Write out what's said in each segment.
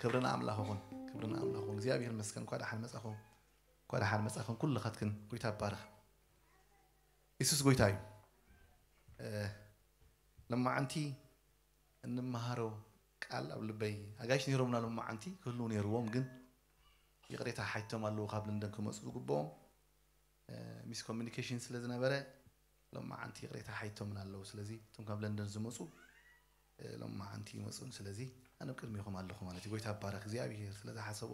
ክብሪ ንኣምላኽ ይኹን ክብሪ ንኣምላኽ ይኹን እግዚኣብሔር ይመስገን እንኳ ደሓን መጻኹም እንኳ ደሓን መጻኽን ኩልኻትክን ጎይታ ይባረኽ ኢየሱስ ጎይታ እዩ ለማዓንቲ እንመሃሮ ቃል ኣብ ልበይ ኣጋይሽ ነይሮምና ለማዓንቲ ክህልው ነይርዎም ግን ይቕሬታ ሓይቶም ኣለዉ ካብ ለንደን ክመፁ ዝግብኦም ሚስ ኮሙኒኬሽን ስለ ዝነበረ ሎማዓንቲ ይቅሬታ ሓይቶምን ኣለዉ ስለዚ እቶም ካብ ለንደን ዝመጹ ሎማዓንቲ ይመጹን ስለዚ ኣነ ኣብ ቅድሜኹም ኣለኹ ማለት እዩ ጎይታ ይባረክ እግዚኣብሄር ስለ ዝሓሰቦ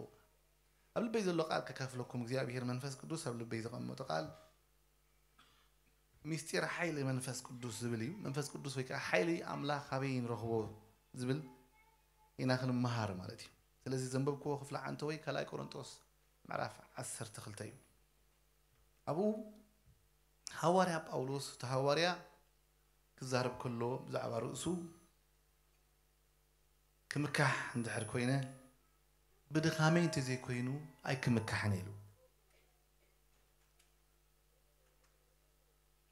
ኣብ ልበይ ዘሎ ቃል ከካፍለኩም እግዚኣብሄር መንፈስ ቅዱስ ኣብ ልበይ ዘቐመጦ ቃል ሚስጢር ሓይሊ መንፈስ ቅዱስ ዝብል እዩ መንፈስ ቅዱስ ወይ ከዓ ሓይሊ ኣምላኽ ኣበይ ንረኽቦ ዝብል ኢና ክንመሃር ማለት እዩ ስለዚ ዘንበብክዎ ክፍሊ ዓንተ ወይ ካልኣይ ቆሮንጦስ ምዕራፍ ዓሰርተ ክልተ እዩ። ኣብኡ ሃዋርያ ጳውሎስ እቲ ሃዋርያ ክዛረብ ከሎ ብዛዕባ ርእሱ ክምካሕ እንድሕር ኮይነ ብድኻመይ እንተዘይኮይኑ ኣይክምካሕን ኢሉ።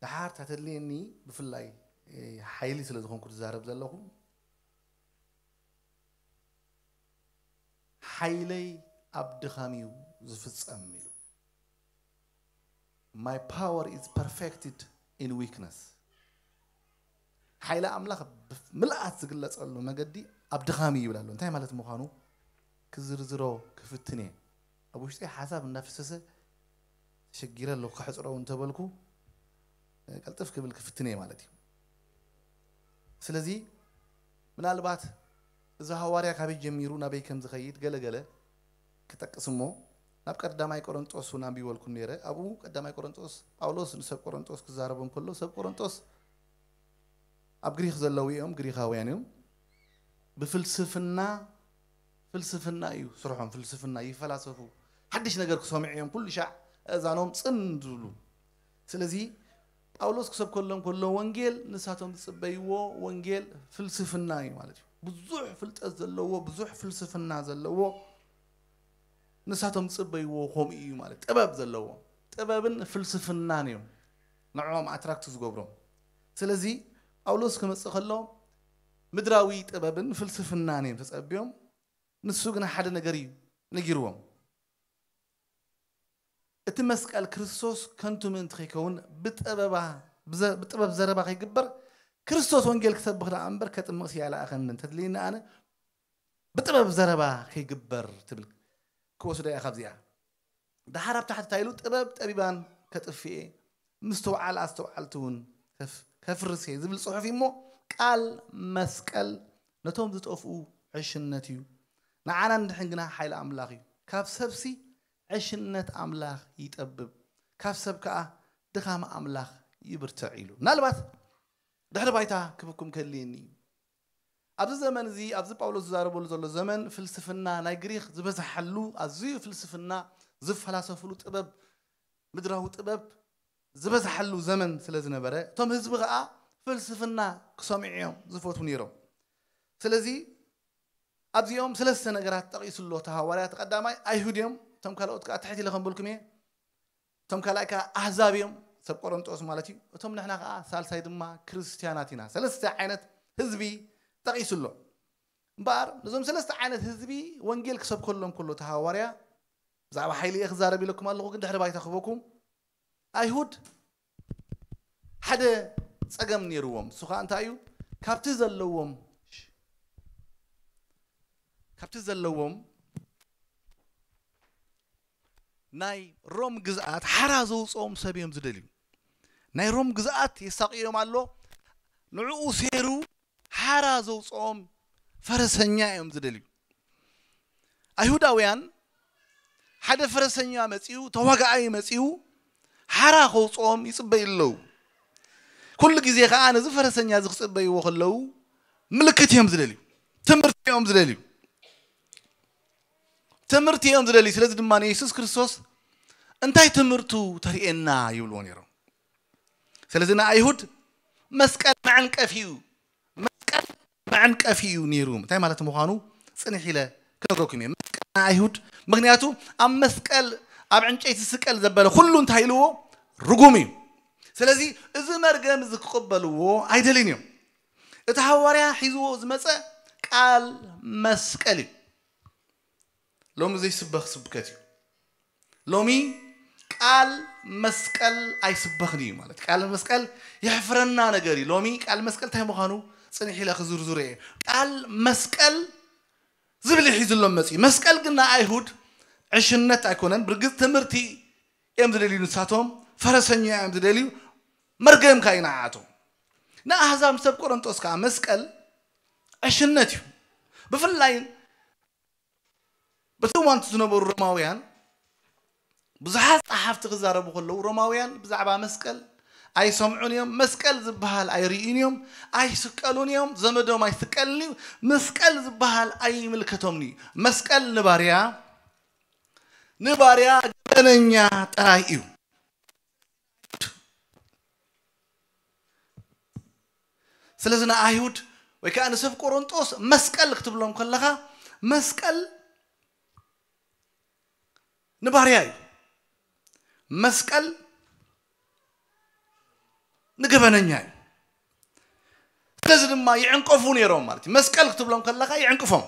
ደሓር ተተድልየኒ ብፍላይ ሓይሊ ስለ ዝኾንኩ ዝዛረብ ዘለኹ ሓይለይ ኣብ ድኻም እዩ ዝፍጸም ኢሉ። My power is perfected in weakness ሓይሊ ኣምላኽ ብምልኣት ዝግለጸሉ መገዲ ኣብ ድኻም እዩ ይብል ኣሎ። እንታይ ማለት ምዃኑ ክዝርዝሮ ክፍትን እየ። ኣብ ውሽጠይ ሓሳብ እንዳፈሰሰ ተሸጊረ ኣለኹ ከሕጽሮ እንተበልኩ ቀልጥፍ ክብል ክፍትን እየ ማለት እዩ። ስለዚ ምናልባት እዚ ሃዋርያ ካበይ ጀሚሩ ናበይ ከም ዝኸይድ ገለ ገለ ክጠቅስ እሞ ናብ ቀዳማይ ቆረንጦስ እውን ኣንቢበልኩም ነይረ። ኣብኡ ቀዳማይ ቆረንጦስ ጳውሎስ ንሰብ ቆረንጦስ ክዛረቦም እንከሎ ሰብ ቆረንጦስ ኣብ ግሪኽ ዘለዉ እዮም፣ ግሪኻውያን እዮም፣ ብፍልስፍና ፍልስፍና እዩ ስርሖም ፍልስፍና ይፈላሰፉ ሓድሽ ነገር ክሰምዑ እዮም ኩሉ ሻዕ ኣእዛኖም ጽን ዝብሉ ስለዚ ጳውሎስ ክሰብከሎም ከሎ ወንጌል ንሳቶም ዝጽበይዎ ወንጌል ፍልስፍና እዩ ማለት እዩ። ብዙሕ ፍልጠት ዘለዎ ብዙሕ ፍልስፍና ዘለዎ ንሳቶም ዝጽበይዎ ከምኡ እዩ ማለት ጥበብ ዘለዎ ጥበብን ፍልስፍናን እዮም ንዕኦም ኣትራክት ዝገብሮም። ስለዚ ጳውሎስ ክመጽእ ከሎ ምድራዊ ጥበብን ፍልስፍናን እዮም ተጸብዮም ንሱ ግና ሓደ ነገር እዩ ነጊርዎም። እቲ መስቀል ክርስቶስ ከንቱ ምእንቲ ከይከውን ብጠበባ ብጥበብ ዘረባ ከይግበር ክርስቶስ ወንጌል ክሰብኽ ደኣ እምበር ከጥምቕሲ ኣይለኣኸንን እንተትልይኒ ኣነ ብጥበብ ዘረባ ከይግበር ትብል ክወስዶ እያ ካብዚኣ ደሓር ኣብ ታሕቲ እንታይ ኢሉ ጥበብ ጠቢባን ከጥፍኤ ምስትውዓል ኣስተውዓልቲ እውን ከፍርስ እየ ዝብል ጽሑፍ እዩ እሞ ቃል መስቀል ነቶም ዝጠፍኡ ዕሽነት እዩ ንዓና ንድሕን ግና ሓይሊ ኣምላኽ እዩ ካብ ሰብሲ ዕሽነት ኣምላኽ ይጠብብ ካብ ሰብ ከኣ ድኻም ኣምላኽ ይብርትዕ ኢሉ ምናልባት ድሕሪ ባይታ ክብኩም ከድልየኒ እዩ ኣብዚ ዘመን እዚ ኣብዚ ጳውሎስ ዝዛረበሉ ዘሎ ዘመን ፍልስፍና ናይ ግሪኽ ዝበዝሓሉ ኣዝዩ ፍልስፍና ዝፈላሰፍሉ ጥበብ ምድራዊ ጥበብ ዝበዝሓሉ ዘመን ስለ ዝነበረ እቶም ህዝቢ ከኣ ፍልስፍና ክሰምዑ እዮም ዝፈትዉ ነይሮም ስለዚ ኣብዚኦም ስለስተ ነገራት ጠቒሱ ኣሎ እቲ ሃዋርያ እቲ ቀዳማይ ኣይሁድ እዮም እቶም ካልኦት ከኣ ትሕት ኢለ ከምበልኩም እየ እቶም ካልኣይ ከኣ ኣህዛብ እዮም፣ ሰብ ቆረንጦስ ማለት እዩ፣ እቶም ንሕና ከኣ ሳልሳይ ድማ ክርስትያናት ኢና። ሰለስተ ዓይነት ህዝቢ ጠቒሱ ኣሎ። እምበኣር ነዞም ሰለስተ ዓይነት ህዝቢ ወንጌል ክሰብከሎም ከሎ እቲ ሃዋርያ ብዛዕባ ሓይሊ እየ ክዛረብ ኢለኩም ኣለኹ፣ ግን ድሕሪ ባይታ ክህበኩም ኣይሁድ ሓደ ጸገም ነይርዎም፣ እሱ ከኣ እንታይ እዩ ካብቲ ዘለዎም ካብቲ ዘለዎም ናይ ሮም ግዝኣት ሓራ ዘውጽኦም ሰብ እዮም ዝደልዩ ናይ ሮም ግዝኣት የሳቅዮም ኣሎ ንዕኡ ሴሩ ሓራ ዘውጽኦም ፈረሰኛ እዮም ዝደልዩ ኣይሁዳውያን ሓደ ፈረሰኛ መጺኡ ተዋጋኣይ መጺኡ ሓራ ከውጽኦም ይጽበዩ ኣለዉ ኩሉ ግዜ ከዓ ነዚ ፈረሰኛ እዚ ክጽበይዎ ከለዉ ምልክት እዮም ዝደልዩ ትምህርቲ እዮም ዝደልዩ ትምህርቲ እዮም ዝደልዩ። ስለዚ ድማ ንየሱስ ክርስቶስ እንታይ ትምህርቱ ተርእየና ይብልዎ ነይሮም። ስለዚ ንኣይሁድ መስቀል መዕንቀፊ እዩ መስቀል መዕንቀፊ እዩ ነይሩ። እንታይ ማለት ምዃኑ ጽንሕ ኢለ ክነግረኩም እየ። መስቀል ንኣይሁድ ምክንያቱ ኣብ መስቀል ኣብ ዕንጨይቲ ዝስቀል ዘበለ ኩሉ እንታይ ኢልዎ ርጉም እዩ። ስለዚ እዚ መርገም እዚ ክቕበልዎ ኣይደልን እዮም። እቲ ሃዋርያ ሒዝዎ ዝመፀ ቃል መስቀል እዩ። ሎሚ ዘይስበኽ ስብከት እዩ። ሎሚ ቃል መስቀል ኣይስበኽን እዩ ማለት ቃል መስቀል የሕፍረና ነገር እዩ። ሎሚ ቃል መስቀል እንታይ ምዃኑ ጽኒሕ ኢለ ክዝርዝሮ እየ። ቃል መስቀል ዝብል እዩ ሒዙሎም መጺኡ። መስቀል ግን ንኣይሁድ ዕሽነት ኣይኮነን። ብርግጽ ትምህርቲ እዮም ዝደልዩ ንሳቶም፣ ፈረሰኛ እዮም ዝደልዩ፣ መርገም ከኣ እዩ ንዓኣቶም። ንኣህዛብ ሰብ ቆረንጦስ ከኣ መስቀል ዕሽነት እዩ። ብፍላይ በቲ እዋን እቲ ዝነበሩ ሮማውያን ብዙሓት ጸሓፍቲ ክዛረቡ ከለዉ ሮማውያን ብዛዕባ መስቀል ኣይሰምዑን እዮም፣ መስቀል ዝበሃል ኣይርእዩን እዮም፣ ኣይስቀሉን እዮም፣ ዘመዶም ኣይስቀልን እዩ፣ መስቀል ዝበሃል ኣይምልከቶምን እዩ። መስቀል ንባርያ ንባርያ ገበነኛ ጥራይ እዩ። ስለዚ ንኣይሁድ ወይ ከዓ ንሰብ ቆሮንጦስ መስቀል ክትብሎም ከለኻ መስቀል ንባርያ እዩ መስቀል ንገበነኛ እዩ ስለዚ ድማ ይዕንቀፉ ነይሮም ማለት እዩ። መስቀል ክትብሎም ከለኻ ይዕንቅፎም።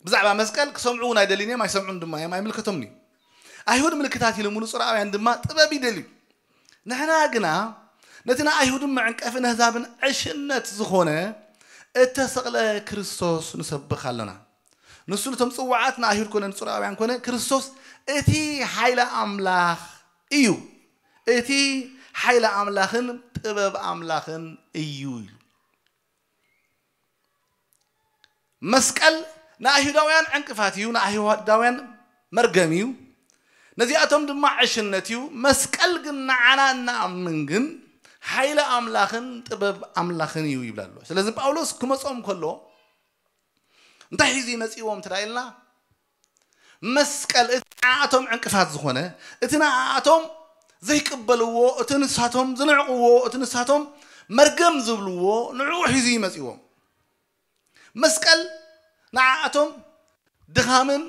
ብዛዕባ መስቀል ክሰምዑ እውን ኣይደልዩን እዮም፣ ኣይሰምዑን ድማ እዮም፣ ኣይምልከቶምን እዩ። ኣይሁድ ምልክታት ይልምኑ፣ ጽርኣውያን ድማ ጥበብ ይደልዩ። ንሕና ግና ነቲ ንኣይሁድን መዕንቀፊ ነህዛብን ዕሽነት ዝኾነ እተሰቕለ ክርስቶስ ንሰብኽ ኣሎና። ንሱ ነቶም ጽዋዓት ንኣይሁድ ኮነ ንጽርኣውያን ኮነ ክርስቶስ እቲ ሓይሊ ኣምላኽ እዩ፣ እቲ ሓይሊ ኣምላኽን ጥበብ ኣምላኽን እዩ ኢሉ። መስቀል ንኣይሁዳውያን ዕንቅፋት እዩ፣ ንኣይሁዳውያን መርገም እዩ፣ ነዚኣቶም ድማ ዕሽነት እዩ፣ መስቀል ግን ንዓና እንኣምን ግን ሓይሊ ኣምላኽን ጥበብ ኣምላኽን እዩ ይብል ኣሎ። ስለዚ ጳውሎስ ክመጾም ከሎ እንታይ ሒዙ እዩ መጺእዎም እንተ ኢልና መስቀል እቲ ንዓኣቶም ዕንቅፋት ዝኾነ፣ እቲ ንዓኣቶም ዘይቅበልዎ፣ እቲ ንሳቶም ዝንዕቅዎ፣ እቲ ንሳቶም መርገም ዝብልዎ ንዕኡ ሒዙ እዩ መጺዎም። መስቀል ንዓኣቶም ድኻምን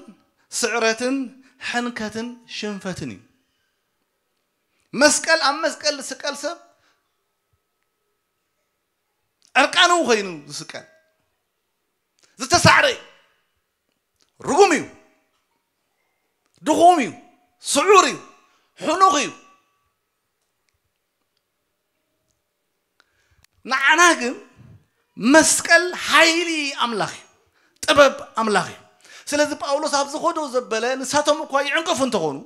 ስዕረትን ሕንከትን ሽንፈትን እዩ። መስቀል ኣብ መስቀል ዝስቀል ሰብ ዕርቃኑ ኮይኑ ዝስቀል ዝተሳዕረ እዩ። ርጉም እዩ ድኹም እዩ ስዑር እዩ ሕኑኽ እዩ ንዓና ግን መስቀል ሓይሊ ኣምላኽ እዩ ጥበብ ኣምላኽ እዩ ስለዚ ጳውሎስ ኣብ ዝኸዶ ዘበለ ንሳቶም እኳ ይዕንቀፉ እንተኾኑ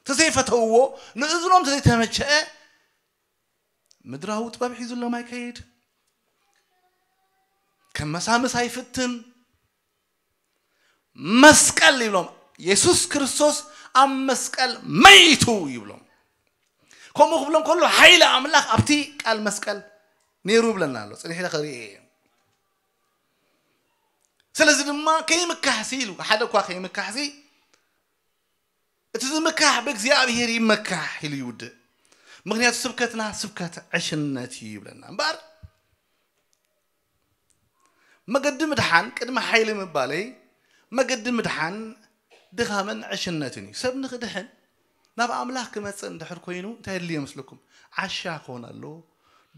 ተዘይፈተውዎ ንእዝኖም ተዘይተመቸአ ምድራዊ ጥበብ ሒዙሎም ኣይከይድ ከም መሳምስ ኣይፍትን መስቀል ይብሎም የሱስ ክርስቶስ ኣብ መስቀል መይቱ ይብሎም ከምኡ ክብሎም ከሎ ሓይሊ ኣምላኽ ኣብቲ ቃል መስቀል ነይሩ ይብለና ኣሎ ፅኒሕ ኢለ ክርኢ እየ ስለዚ ድማ ከይምካሕሲ ኢሉ ሓደ እኳ ከይምካሕሲ እቲ ዝምካሕ ብእግዚኣብሄር ይመካሕ ኢሉ ይውድእ ምክንያቱ ስብከትና ስብከት ዕሽነት እዩ ይብለና እምበር መገዲ ምድሓን ቅድሚ ሓይሊ ምባለይ መገዲ ምድሓን ድኻምን ዕሽነትን እዩ። ሰብ ንኽድሕን ናብ ኣምላኽ ክመጽእ እንድሕር ኮይኑ እንታይ የድልዮ ይመስለኩም? ዓሻ ክኾን ኣለዎ፣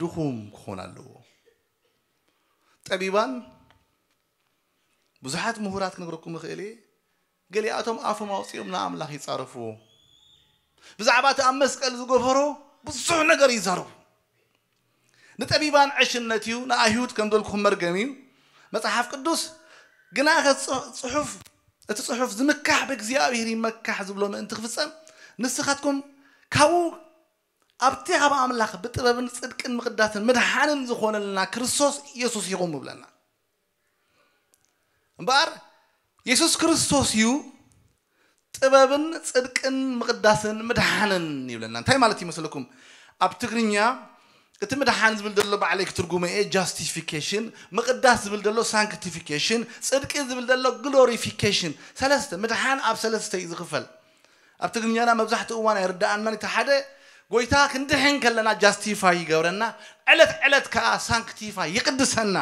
ድኹም ክኾን ኣለዎ። ጠቢባን ብዙሓት ምሁራት ክነግረኩም እኽእል እየ ገሊኣቶም ኣፎም ኣውጺኦም ንኣምላኽ ይጻረፍዎ። ብዛዕባ እቲ ኣብ መስቀል ዝገበሮ ብዙሕ ነገር ይዛረቡ። ንጠቢባን ዕሽነት እዩ፣ ንኣይሁድ ከም በልኩኹም መርገም እዩ። መጽሓፍ ቅዱስ ግናኸ እቲ ጽሑፍ እቲ ጽሑፍ ዝምካሕ ብእግዚኣብሄር ይመካሕ ዝብሎ ምእንቲ ክፍጸም ንስኻትኩም ካብኡ ኣብቲ ካብ ኣምላኽ ብጥበብን ጽድቅን ምቕዳስን ምድሓንን ዝኾነልና ክርስቶስ የሱስ ኢኹም እብለና። እምበኣር የሱስ ክርስቶስ እዩ ጥበብን ጽድቅን ምቕዳስን ምድሓንን ይብለና። እንታይ ማለት እዩ መሰለኩም? ኣብ ትግርኛ እቲ ምድሓን ዝብል ዘሎ ባዕለይ ክትርጉሞ እየ ጃስቲፊኬሽን፣ ምቕዳስ ዝብል ዘሎ ሳንክቲፊኬሽን፣ ጽድቂ ዝብል ዘሎ ግሎሪፊኬሽን። ሰለስተ ምድሓን ኣብ ሰለስተ እዩ ዝኽፈል። ኣብ ትግርኛና መብዛሕትኡ እዋን ኣይርደኣናን እቲ ሓደ ጎይታ ክንድሕን ከለና ጃስቲፋይ ይገብረና ዕለት ዕለት ከኣ ሳንክቲፋይ ይቅድሰና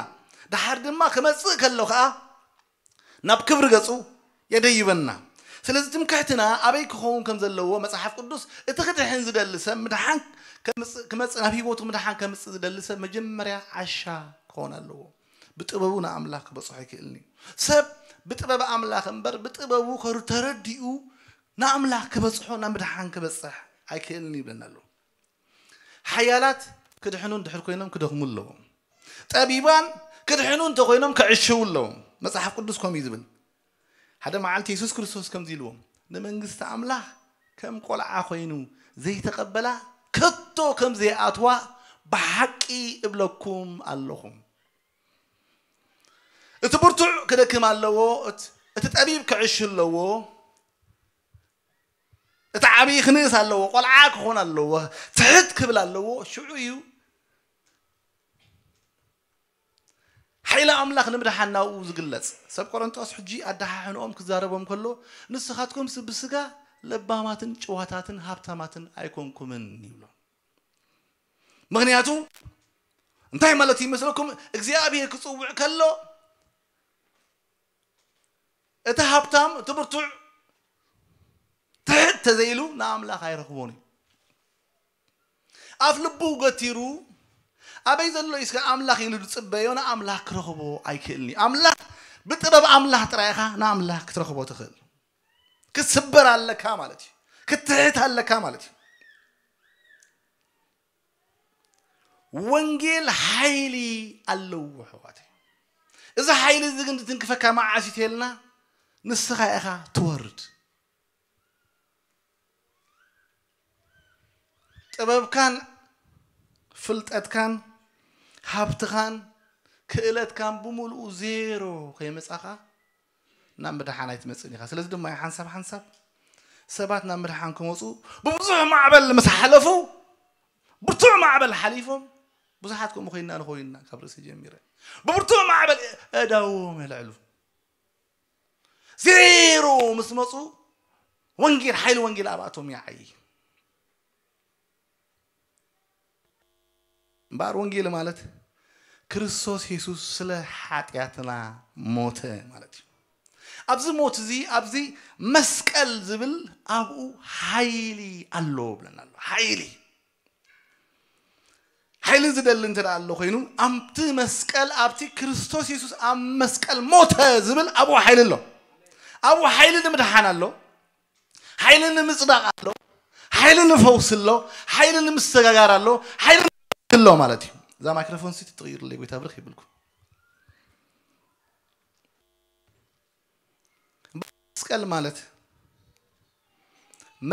ደሓር ድማ ክመጽእ ከሎ ከኣ ናብ ክብሪ ገጹ የደይበና ስለዚ ትምክሕትና ኣበይ ክኸውን ከም ዘለዎ መጽሓፍ ቅዱስ እቲ ክድሕን ዝደሊ ሰብ ምድሓን ክመጽእ ናብ ህይወቱ ምድሓን ከምጽእ ዝደሊ ሰብ መጀመርያ ዓሻ ክኾን ኣለዎ ብጥበቡ ንኣምላኽ ክበጽሖ ኣይክእልን'ዩ። ሰብ ብጥበብ ኣምላኽ እምበር ብጥበቡ ተረዲኡ ንኣምላኽ ክበጽሖ ናብ ምድሓን ክበጽሕ ኣይክእልን'ዩ ይብለና ኣሎ። ሓያላት ክድሕኑ እንድሕር ኮይኖም ክደኽሙ ኣለዎም። ጠቢባን ክድሕኑ እንተኾይኖም ክዕሽዉ ኣለዎም። መጽሓፍ ቅዱስ ከምኡ'ዩ ዝብል። ሓደ መዓልቲ የሱስ ክርስቶስ ከምዚ ኢልዎም፣ ንመንግስቲ ኣምላኽ ከም ቈልዓ ዀይኑ ዘይተቐበላ ከቶ ከም ዘይኣትዋ ብሓቂ እብለኩም ኣሎኹ። እቲ ብርቱዕ ክደክም ኣለዎ፣ እቲ ጠቢብ ክዕሽ ኣለዎ፣ እቲ ዓብዪ ክንእስ ኣለዎ፣ ቈልዓ ክዀን ኣለዎ፣ ትሕት ክብል ኣለዎ፣ ሽዑ እዩ ሓይሊ ኣምላኽ ንምድሓን ናብኡ ዝግለጽ ሰብ ቆረንጦስ ሕጂ ኣደሓሕንኦም ክዛረቦም ከሎ ንስኻትኩምስ ብስጋ ለባማትን ጭዋታትን ሃብታማትን ኣይኮንኩምን ይብሎም ምኽንያቱ እንታይ ማለት እዩ መስለኩም እግዚኣብሔር ክጽውዕ ከሎ እቲ ሃብታም እቲ ብርቱዕ ትሕት ተዘይሉ ንኣምላኽ ኣይረኽቦን እዩ ኣፍ ልቡ ገቲሩ ኣበይ ዘሎ እዩ ስከ ኣምላኽ ኢሉ ዝጽበዮ ንኣምላኽ ክረኽቦ ኣይክእልን እዩ። ኣምላኽ ብጥበብ ኣምላኽ ጥራይ ኢኻ ንኣምላኽ ክትረኽቦ ትኽእል። ክትስበር ኣለካ ማለት እዩ። ክትሕት ኣለካ ማለት እዩ። ወንጌል ሓይሊ ኣለዎ ኣሕዋተይ። እዚ ሓይሊ እዚ ግን ዝትንክፈካ መዓስ እዩ ተይልና ንስኻ ኢኻ ትወርድ። ጥበብካን ፍልጠትካን ሃብትኻን ክእለትካን ብምልኡ ዜሮ ከይመጻኻ ናብ ምድሓን ኣይትመጽእን ኢኻ። ስለዚ ድማ ሓንሳብ ሓንሳብ ሰባት ናብ ምድሓን ክመጹ ብብዙሕ ማዕበል ምስ ሓለፉ ብርቱዕ ማዕበል ሓሊፎም ብዙሓት ከምኡ ኮይና ንኾይንና ካብ ርእሲ ጀሚረ ብብርቱዕ ማዕበል ኣእዳዎም የልዕሉ ዜሮ ምስ መፁ ወንጌል ሓይሊ ወንጌል ኣብኣቶም ይዓይ እምበኣር ወንጌል ማለት ክርስቶስ የሱስ ስለ ሓጢኣትና ሞተ ማለት እዩ ኣብዚ ሞት እዚ ኣብዚ መስቀል ዝብል ኣብኡ ሓይሊ ኣሎ ብለና ኣሎ ሓይሊ ሓይሊ ዝደሊ እንተ ኣሎ ኮይኑ ኣብቲ መስቀል ኣብቲ ክርስቶስ የሱስ ኣብ መስቀል ሞተ ዝብል ኣብኡ ሓይሊ ኣሎ ኣብኡ ሓይሊ ንምድሓን ኣሎ ሓይሊ ንምፅዳቕ ኣሎ ሓይሊ ንፈውሲ ኣሎ ሓይሊ ንምስተጋጋር ኣሎ ሓይሊ ኣሎ ማለት እዩ እዛ ማይክሮፎን ሲ ትቕይርለይ ጎይታ ብርክ ይብልኩም መስቀል ማለት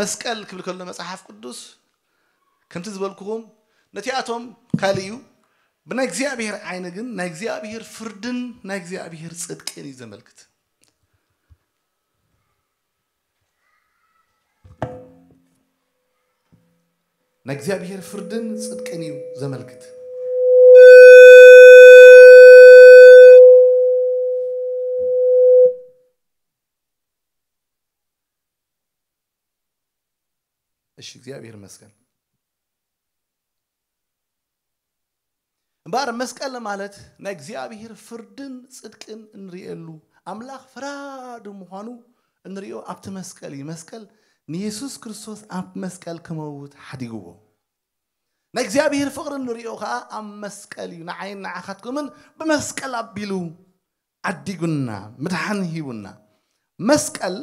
መስቀል ክብል ከሎ መጽሓፍ ቅዱስ ከምቲ ዝበልኩኹም ነቲኣቶም ካልእ እዩ ብናይ እግዚኣብሔር ዓይኒ ግን ናይ እግዚኣብሔር ፍርድን ናይ እግዚኣብሔር ጽድቅን እዩ ዘመልክት ናይ እግዚኣብሔር ፍርድን ጽድቅን እዩ ዘመልክት። እሺ፣ እግዚኣብሔር ይመስገን። እምበኣር መስቀል ማለት ናይ እግዚኣብሄር ፍርድን ጽድቅን እንርእየሉ፣ ኣምላኽ ፈራዲ ምዃኑ እንርእዮ ኣብቲ መስቀል እዩ። መስቀል ንየሱስ ክርስቶስ ኣብ መስቀል ክመውት ሓዲግዎ። ናይ እግዚኣብሄር ፍቕሪ እንርእዮ ከኣ ኣብ መስቀል እዩ። ንዓይን ንዓኻትኩምን ብመስቀል ኣቢሉ ዓዲጉና፣ ምድሓን ሂቡና። መስቀል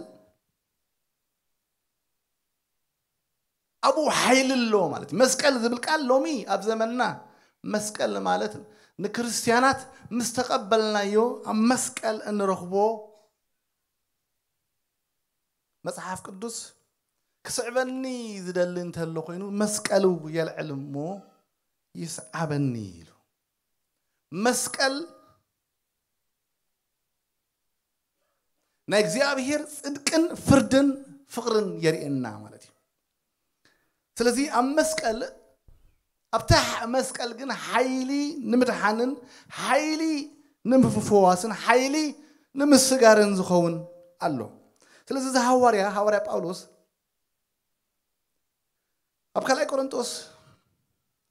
ኣብኡ ሓይሊ ኣሎ ማለት እዩ። መስቀል ዝብል ቃል ሎሚ ኣብ ዘመንና መስቀል ማለት ንክርስትያናት ምስ ተቐበልናዮ ኣብ መስቀል እንረኽቦ መጽሓፍ ቅዱስ ክስዕበኒ ዝደሊ እንተሎ ኮይኑ መስቀሉ የልዕል እሞ ይስዓበኒ ኢሉ መስቀል ናይ እግዚኣብሄር ጽድቅን ፍርድን ፍቕርን የርእየና ማለት እዩ ስለዚ ኣብ መስቀል ኣብታ መስቀል ግን ሓይሊ ንምድሓንን ሓይሊ ንምፍዋስን ሓይሊ ንምስጋርን ዝኸውን ኣሎ ስለዚ እዚ ሃዋርያ ሃዋርያ ጳውሎስ ኣብ ካልኣይ ቆሮንጦስ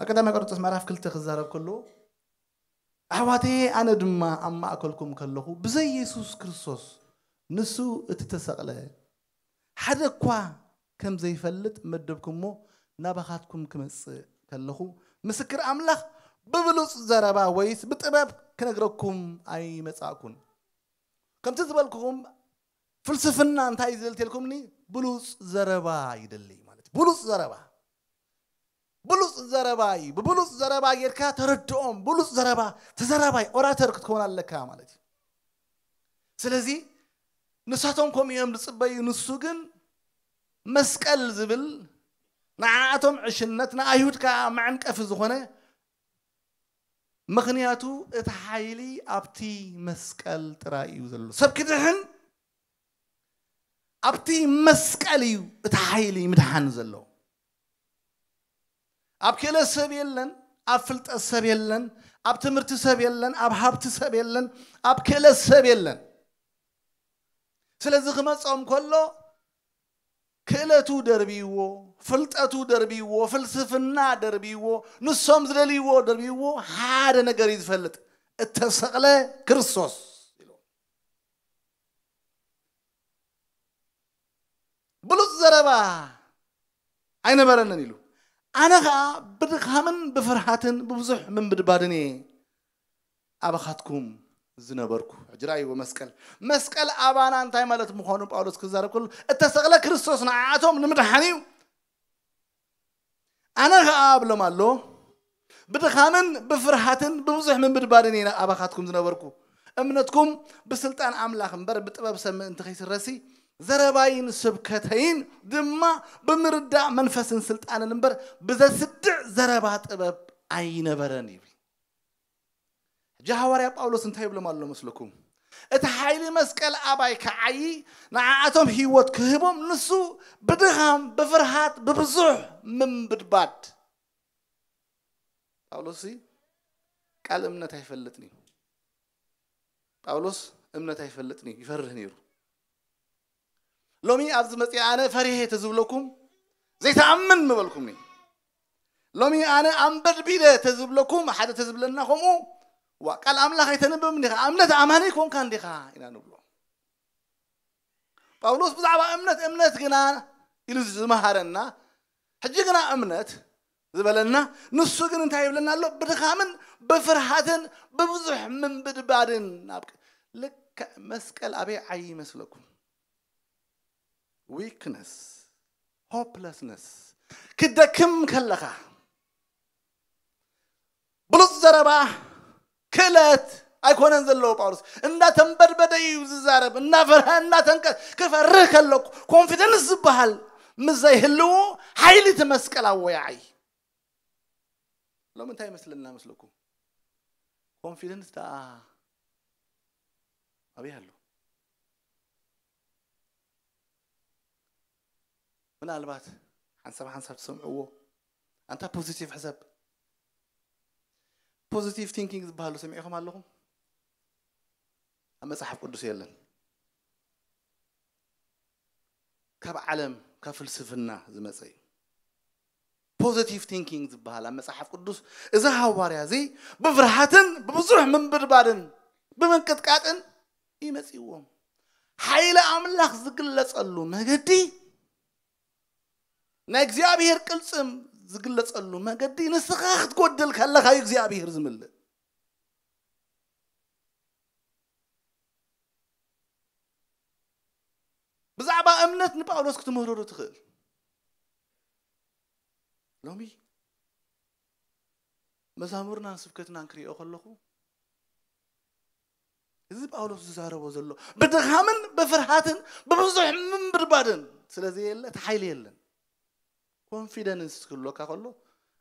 ኣብ ቀዳማይ ቆሮንጦስ ምዕራፍ ክልተ ክዛረብ ከሎ ኣሕዋተየ ኣነ ድማ ኣብ ማእከልኩም ከለኹ ብዘይ የሱስ ክርስቶስ ንሱ እቲ ተሰቕለ ሓደ እኳ ከም ዘይፈልጥ መደብኩሞ ናባኻትኩም ክመጽእ ከለኹ ምስክር ኣምላኽ ብብሉጽ ዘረባ ወይስ ብጥበብ ክነግረኩም ኣይመጻእኩን ከምቲ ዝበልኩኹም ፍልስፍና እንታይ እዩ ዝደሊ ተልኩምኒ ብሉጽ ዘረባ ይደሊ ማለት ብሉጽ ዘረባ ብሉጽ ዘረባ እዩ ብብሉጽ ዘረባ ጌርካ ተረድኦም ብሉጽ ዘረባ ተዘራባይ ኦራተር ክትከውን ኣለካ ማለት እዩ ስለዚ ንሳቶም ከምኡ እዮም ዝፅበዩ ንሱ ግን መስቀል ዝብል ንዓኣቶም ዕሽነት ንኣይሁድ ከዓ መዐንቀፊ ዝኾነ ምኽንያቱ እቲ ሓይሊ ኣብቲ መስቀል ጥራይ እዩ ዘሎ። ሰብ ክድሕን ኣብቲ መስቀል እዩ እቲ ሓይሊ ምድሓን ዘሎ። ኣብ ክእለት ሰብ የለን፣ ኣብ ፍልጠት ሰብ የለን፣ ኣብ ትምህርቲ ሰብ የለን፣ ኣብ ሃብቲ ሰብ የለን፣ ኣብ ክእለት ሰብ የለን። ስለዚ ክመጾም ከሎ ክእለቱ ደርብይዎ፣ ፍልጠቱ ደርብይዎ፣ ፍልስፍና ደርብይዎ፣ ንሶም ዝደልይዎ ደርብይዎ ሓደ ነገር እዩ ዝፈልጥ እተሰቕለ ክርስቶስ ኢሉ። ብሉጽ ዘረባ ኣይነበረንን ኢሉ። ኣነ ኸኣ ብድኻምን ብፍርሃትን ብብዙሕ ምንብድባድን እየ ኣባኻትኩም ዝነበርኩ ሕጂ ርኣይዎ መስቀል መስቀል ኣባና እንታይ ማለት ምዃኑ ጳውሎስ ክዛረብ ከሎ እተሰቕለ ክርስቶስ ንዓኣቶም ንምድሓን እዩ ኣነ ኸኣ እብሎም ኣሎ ብድኻምን ብፍርሃትን ብብዙሕ ምብድባድን እየ ኣባኻትኩም ዝነበርኩ እምነትኩም ብስልጣን ኣምላኽ እምበር ብጥበብ ሰብ ምእንቲ ከይስረሲ ዘረባይን ስብከተይን ድማ ብምርዳእ መንፈስን ስልጣንን እምበር ብዘስድዕ ዘረባ ጥበብ ኣይነበረን ይብል ሕጂ ሃዋርያ ጳውሎስ እንታይ ይብሎም ኣሎ መስለኩም? እቲ ሓይሊ መስቀል ኣባይ ክዓዪ ንዓኣቶም ህይወት ክህቦም ንሱ ብድኻም ብፍርሃት ብብዙሕ ምንብድባድ ጳውሎስ ቃል እምነት ኣይፈልጥን እዩ ጳውሎስ እምነት ኣይፈልጥን እዩ ይፈርህ ነይሩ ሎሚ ኣብዚ መፅኣ ኣነ ፈሪሄ ተዝብለኩም ዘይተኣምን ምበልኩምኒ ሎሚ ኣነ ኣምበድቢደ ተዝብለኩም ሓደ ተዝብለና ከምኡ ዋእ ቃል ኣምላኽ ኣይተንብብን ዲኻ እምነት ኣማኒ ኣይኮንካን ዲኻ ኢና ንብሎ ጳውሎስ ብዛዕባ እምነት እምነት ግና ኢሉ ዝመሃረና ሕጂ ግና እምነት ዝበለና ንሱ ግን እንታይ ይብለና ኣሎ ብድኻምን ብፍርሃትን ብብዙሕ ምንብድባድን ናብ ልክዕ መስቀል ኣበይ ዓይ ይመስለኩም ዊክነስ ሆፕለስነስ ክደክም ከለኻ ብሉፅ ዘረባ ክእለት ኣይኮነን ዘለዎ ጳውሎስ እንዳተንበድበደ እዩ ዝዛረብ እናፈርሀ እናተንቀ ክፈርህ ከለኩ ኮንፊደንስ ዝበሃል ምስ ዘይህልዎ ሓይሊ እቲ መስቀል ኣወያዓይ ሎሚ እንታይ ይመስለና መስለኩ ኮንፊደንስ ደኣ ኣበይ ኣሎ ምናልባት ሓንሳብ ሓንሳብ ትሰምዕዎ ኣንታ ፖዚቲቭ ሕሰብ ፖዚቲቭ ቲንኪንግ ዝበሃሉ ሰሚዕኹም ኣለኹም ኣብ መጽሓፍ ቅዱስ የለን ካብ ዓለም ካብ ፍልስፍና ዝመፀ እዩ ፖዘቲቭ ቲንኪንግ ዝበሃል ኣብ መጽሓፍ ቅዱስ እዚ ሃዋርያ እዚ ብፍርሃትን ብብዙሕ ምንብድባድን ብምንቅጥቃጥን እዩ መጺእዎም። ሓይሊ ኣምላኽ ዝግለጸሉ መገዲ ናይ እግዚኣብሄር ቅልጽም ዝግለጸሉ መገዲ ንስኻ ክትጎድል ከለኻ እዩ እግዚኣብሄር ዝምልእ። ብዛዕባ እምነት ንጳውሎስ ክትምህርሩ ትኽእል ሎሚ መዛሙርናን ስብከትናን ክሪኦ ከለኹ እዚ ጳውሎስ ዝዛረቦ ዘሎ ብድኻምን ብፍርሃትን ብብዙሕ ምንብድባድን ስለዘየለ እቲ ሓይሊ የለን ኮንፊደንስ ክህሎካ ከሎ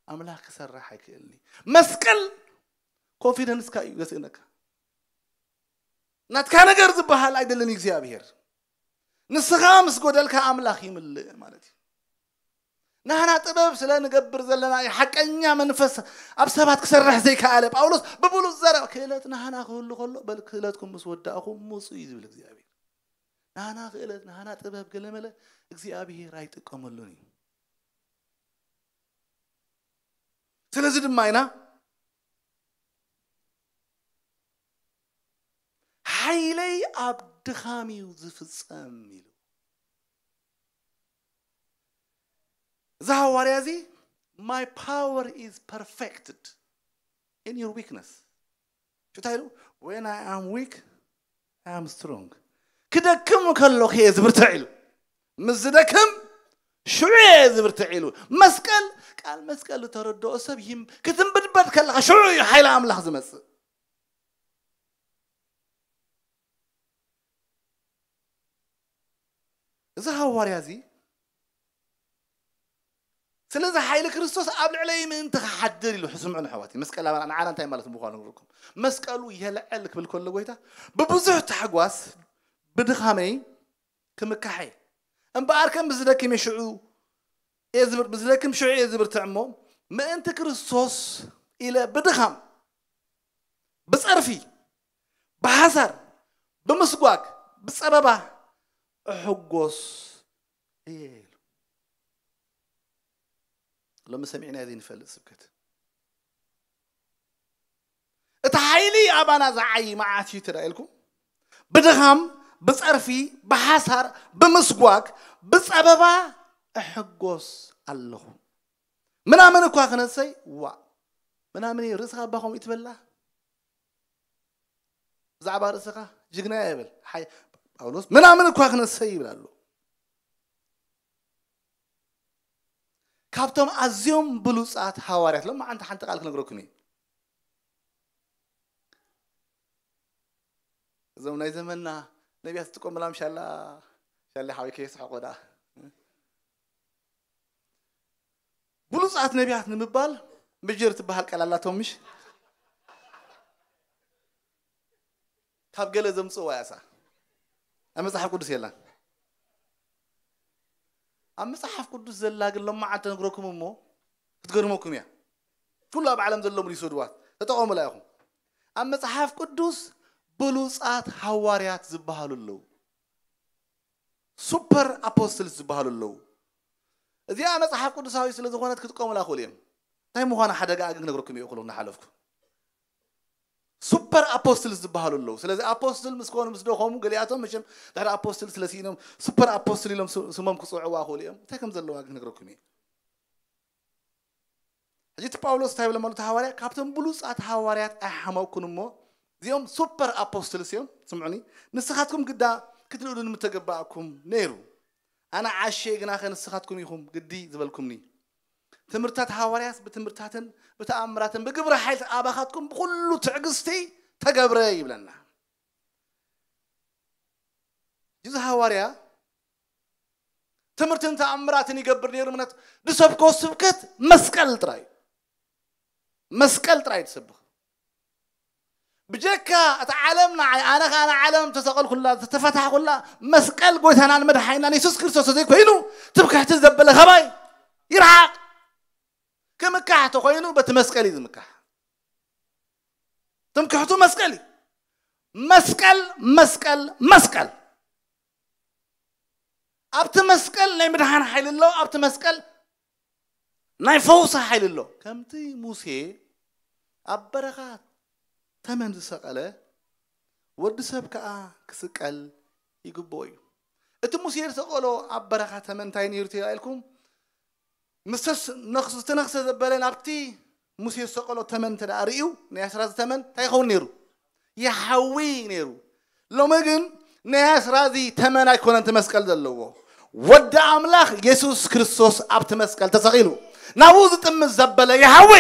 ኣምላኽ ክሰርሕ ኣይክእልኒ መስቀል ኮንፊደንስካ እዩ ዘስእነካ ናትካ ነገር ዝበሃል ኣይደልን እግዚኣብሔር ንስኻ ምስ ጎደልካ ኣምላኽ ይምልእ ማለት እዩ ናህና ጥበብ ስለ ንገብር ዘለና እዩ ሓቀኛ መንፈስ ኣብ ሰባት ክሰርሕ ዘይከኣለ ጳውሎስ ብብሉፅ ዘረባ ክእለት ናህና ክህሉ ከሎ በል ክእለትኩም ምስ ወዳእኹም ምፁ እዩ ዝብል እግዚኣብሔር ናህና ክእለት ናህና ጥበብ ገለመለ እግዚኣብሔር ኣይጥቀመሉን እዩ ስለዚ ድማ ኢና ሓይለይ ኣብ ድኻም እዩ ዝፍጸም ኢሉ እዚ ሃዋርያ እዚ ማይ ፓወር ኢዝ ፐርፌክትድ ኢን ዩር ዊክነስ እንታይ ኢሉ ወን ኣይ ኣም ዊክ ኣይ ኣም ስትሮንግ ክደክም ከሎክ እየ ዝብርትዕ ኢሉ ምስ ዝደክም ሽዑ እየ ዝብርትዕ ኢሉ መስቀል ቃል መስቀል ዝተረድኦ ሰብ ክትንብድበድ ከለካ ሽዑ እዩ ሓይሊ ኣምላኽ ዝመፅእ እዚ ሃዋርያ እዚ ስለዚ ሓይሊ ክርስቶስ ኣብ ልዕለይ ምእንቲ ክሓድር ኢሉ ስምዑን ኣሕዋተይ መስቀላውያን ንዓና እንታይ ማለት ምዃኑ ንርኩም መስቀሉ የልዕል ክብል ከሎ ጎይታ ብብዙሕ ታሕጓስ ብድኻመይ ክምካሕ እየ እምበኣር ከም ብዝደክም እየ ሽዑ እየ ዝብር ብዝደክም ሽዑ እየ ዝብርትዕ እሞ ምእንቲ ክርስቶስ ኢለ ብድኻም ብጸርፊ ብሓሳር፣ ብምስጓግ፣ ብጸበባ እሕጎስ እየ ኢሉ። ሎሚ ሰሚዕናዮ ዘይንፈልጥ ስብከት። እቲ ሓይሊ ኣባና ዝዓዪ መዓስ እዩ ተዳኢልኩም? ብድኻም፣ ብጸርፊ፣ ብሓሳር፣ ብምስጓግ፣ ብጸበባ እሕጎስ ኣለኹ። ምናምን እኳ ክነሰይ፣ ዋእ ምናምን እዩ፣ ርእስኻ እባ ከምኡ እዩ ትበላ? ብዛዕባ ርእስኻ ጅግና እየ በል ሓይ- ጳውሎስ ምናምን እኳ ክነሰይ ይብል ኣሎ ካብቶም ኣዝዮም ብሉፃት ሃዋርያት ሎም መዓንቲ ሓንቲ ቃል ክነግረኩም እዩ እዞም ናይ ዘመንና ነቢያት ዝጥቀሙላም ሻላ ሻላ ሓወይ ከየስሐቆ ደኣ ብሉጻት ነቢያት ንምባል ምጅር ትበሃል ቃል ኣላቶም ምሽ ካብ ገለ ዘምጽእዋ እያ እሳ ኣብ መጽሓፍ ቅዱስ የላን ኣብ መጽሓፍ ቅዱስ ዘላ ግን ሎማዓንቲ ነግረኩም እሞ ክትገርመኩም እያ ኩሉ ኣብ ዓለም ዘሎ ምሉ ይስድዋት ተጠቐሙላ ኢኹም ኣብ መጽሓፍ ቅዱስ ብሉጻት ሃዋርያት ዝበሃሉ ኣለዉ ሱፐር ኣፖስትልስ ዝበሃሉ ኣለዉ። እዚኣ መጽሓፍ ቅዱሳዊት ስለ ዝኾነት ክጥቀሙላ ይኽእሉ እዮም። እንታይ ምዃና ሓደጋኣ ግን ክነግረኩም እየ እኹል እናሓለፍኩ። ሱፐር ኣፖስትልስ ዝበሃሉ ኣለዉ። ስለዚ ኣፖስትል ምስ ኮኑ ምስ ደኸሙ ገሊኣቶም መቸም ድሕሪ ኣፖስትል ስለ ስኢኖም ሱፐር ኣፖስትል ኢሎም ስ- ስሞም ክጽውዕዋ ይኽእሉ እዮም። እንታይ ከም ዘለዋ ግን ክነግረኩም እየ። ሕጂ እቲ ጳውሎስ እንታይ ይብሎም ኣሎ እቲ ሃዋርያ ካብቶም ብሉጻት ሃዋርያት ኣይሓመቕኩን እሞ እዚኦም ሱፐር ኣፖስትልስ እዮም ስምዑኒ ንስኻትኩም ግዳ ክትልእሉኒ ምተገባእኩም ነይሩ ኣነ ዓሸ ግናኸ ንስኻትኩም ኢኹም ግዲ ዝበልኩምኒ ትምህርትታት ሃዋርያስ ብትምህርትታትን ብተኣምራትን ብግብረ ሓይልት ኣባኻትኩም ብኩሉ ትዕግስቲ ተገብረ ይብለና እዚ ሃዋርያ ትምህርትን ተኣምራትን ይገብር ነይሩ ምክንያቱ ዝሰብኮ ስብከት መስቀል ጥራይ መስቀል ጥራይ ትሰብክ ብጀካ እቲ ዓለም ንዓይ ኣነ ከዓ ንዓለም ተሰቐልኩላ ዝተፈታሕኩላ መስቀል ጎይታናን መድሓይናን የሱስ ክርስቶስ ተዘይኮይኑ ትብክሕቲ ዘበለ ከባይ ይርሓቕ ክምካሕ ተኮይኑ በቲ መስቀል እዩ ዝምካሕ ትምክሕቱ መስቀል እዩ መስቀል መስቀል መስቀል ኣብቲ መስቀል ናይ ምድሓን ሓይሊ ኣሎ፣ ኣብቲ መስቀል ናይ ፈውሲ ሓይሊ ኣሎ። ከምቲ ሙሴ ኣብ በረኻ ተመን ዝሰቐለ፣ ወዲ ሰብ ከኣ ክስቀል ይግብኦ እዩ። እቲ ሙሴ ዝሰቐሎ ኣብ በረኻ ተመን እንታይ ነይሩ ተባሂልኩም ምስ ዝተነኽሰ ዝተነኽሰ ዘበለ ናብቲ ሙሴ ዝሰቀሎ ተመን እንተ ርእዩ ናይ ኣስራዚ ተመን እንታይ ይኸውን ነይሩ? ይሓዊ ነይሩ። ሎሚ ግን ናይ ኣስራዚ ተመን ኣይኮነን እቲ መስቀል ዘለዎ። ወዲ ኣምላኽ የሱስ ክርስቶስ ኣብቲ መስቀል ተሰቒሉ ናብኡ ዝጥምት ዘበለ ይሓዊ።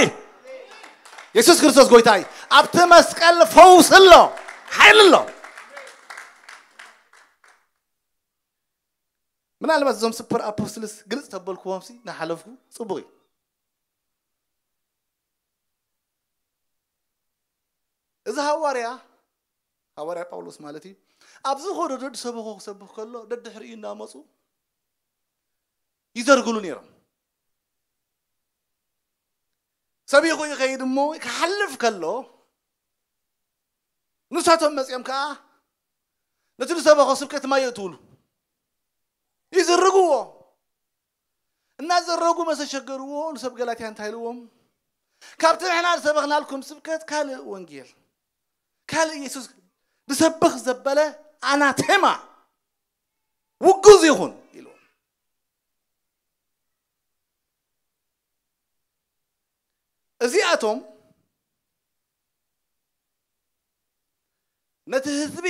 የሱስ ክርስቶስ ጎይታ እዩ። ኣብቲ መስቀል ፈውሲ ኣሎ፣ ሓይሊ ኣሎ። ምናልባት እዞም ስፐር ኣፖስትልስ ግልጽ ተበልክዎምሲ ንሓለፍኩ ጽቡቕ እዩ። እዚ ሃዋርያ፣ ሃዋርያ ጳውሎስ ማለት እዩ፣ ኣብ ዝኸዶ ደድሰበኾ ክሰብኽ ከሎ ደድሕሪኡ እናመጹ ይዘርግሉ ነይሮም። ሰቢኹ ይኸይድ እሞ ክሓልፍ ከሎ ንሳቶም መጺኦም ከኣ ነቲ ዝሰበኾ ስብከት ማይ የእትውሉ፣ ይዝርግዎ። እናዘረጉ መሰሸገርዎ ንሰብ ገላትያ እንታይ ኢልዎም ካብቲ ንሕና ዝሰበኽናልኩም ስብከት ካልእ ወንጌል ካልእ ኢየሱስ ዝሰብኽ ዘበለ ኣናቴማ ውጉዝ ይኹን ኢልዎም እዚኣቶም ነቲ ህዝቢ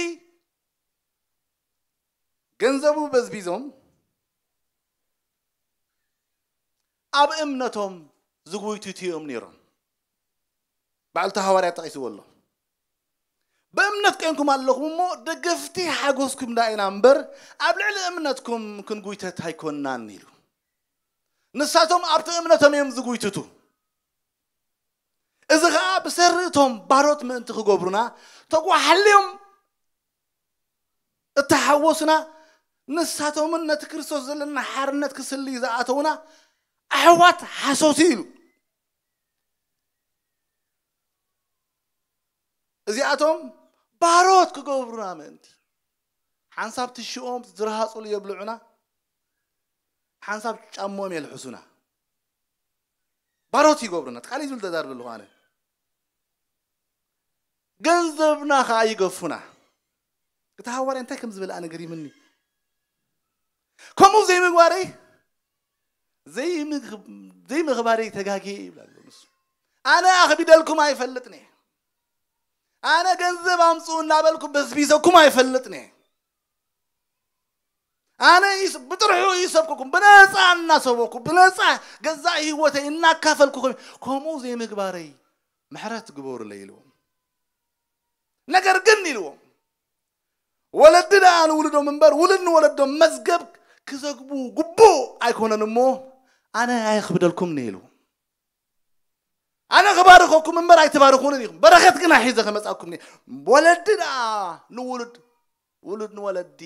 ገንዘቡ በዝቢዞም ኣብ እምነቶም ዝጉይትቱ እዮም ነይሮም። ባዕሉ እቲ ሃዋርያ ጠቒስዎ ኣሎ። ብእምነት ኴንኩም ኣለኹም እሞ ደገፍቲ ሓጐስኩም ደኣ ኢና እምበር ኣብ ልዕሊ እምነትኩም ክንጉይተት ኣይኮንናን ኢሉ። ንሳቶም ኣብቲ እምነቶም እዮም ዝጉይትቱ። እዚ ኸኣ ብሰሪ እቶም ባሮት ምእንቲ ክገብሩና ተጓሓልዮም እታ ሓጎስና ንሳቶምን ነቲ ክርስቶስ ዘለና ሓርነት ክስልዩ ዝኣተዉና ኣሕዋት ሓሶት ኢዩ ኢሉ። እዚኣቶም ባሮት ክገብሩና ምእንቲ ሓንሳብ ትሽኦም ዝረሃጹሉ የብልዑና፣ ሓንሳብ ጫምኦም የልሕሱና። ባሮት ይገብሩና። እቲ ካልእ ዝብል ተዛርብ ኣለኹ ኣነ። ገንዘብና ከኣ ይገፉና። እቲ ሃዋርያ እንታይ ከም ዝበለ ኣነ ገሪምኒ። ከምኡ ዘይምግባረይ ዘይምኽባረይ ተጋጊየ ይብል ኣሎ ንሱ። ኣነ ኣኽቢደልኩም ኣይፈልጥን እየ። ኣነ ገንዘብ ኣምፅኡ እናበልኩ በዝቢዘኩም ኣይፈልጥን እየ። ኣነ ብጥርሑ ይሰብኩኩም ብነፃ እናሰበኩ ብነፃ ገዛእ ህይወተይ እናካፈልኩ ከምኡ ዘይምግባረይ ምሕረት ግበሩለይ ኢልዎም ነገር ግን ኢልዎም ወለዲ ደኣ ንውሉዶም እምበር ውሉድ ንወለዶም መዝገብ ክዘግቡ ግቡእ ኣይኮነን እሞ ኣነ ኣይኽብደልኩምኒ ኢልዎም ኣነ ክባርኸኩም እምበር ኣይትባርኹንን ኢኹም በረኸት ግና ሒዘ ከመጻኩም ወለዲ ደኣ ንውሉድ ውሉድ ንወለዲ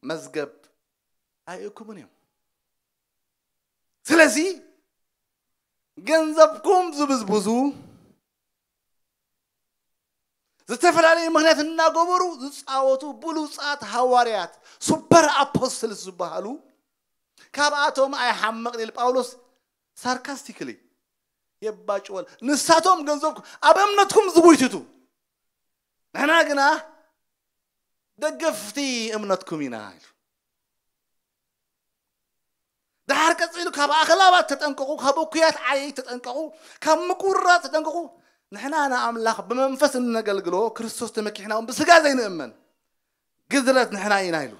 መዝገብ ኣይእኩምን እዮም ስለዚ ገንዘብኩም ዝብዝብዙ ዝተፈላለዩ ምክንያት እናገበሩ ዝፃወቱ ብሉፃት ሃዋርያት ሱፐር ኣፖስትልስ ዝበሃሉ ካብኣቶም ኣይሓመቕን ኢል ጳውሎስ ሳርካስቲክሊ የባጭወል ንሳቶም ገንዘብኩም ኣብ እምነትኩም ዝጉይትቱ ንሕና ግና ደገፍቲ እምነትኩም ኢና ኢሉ ድሓር ቀጺሉ ካብ ኣኽላባት ተጠንቀቑ፣ ካብ እኩያት ዓየይቲ ተጠንቀቑ፣ ካብ ምቁርራጽ ተጠንቀቑ። ንሕና ንኣምላኽ ብመንፈስ እነገልግሎ፣ ክርስቶስ ተመኪሕና እውን ብስጋ ዘይንእመን ግዝረት ንሕና ኢና ኢሉ።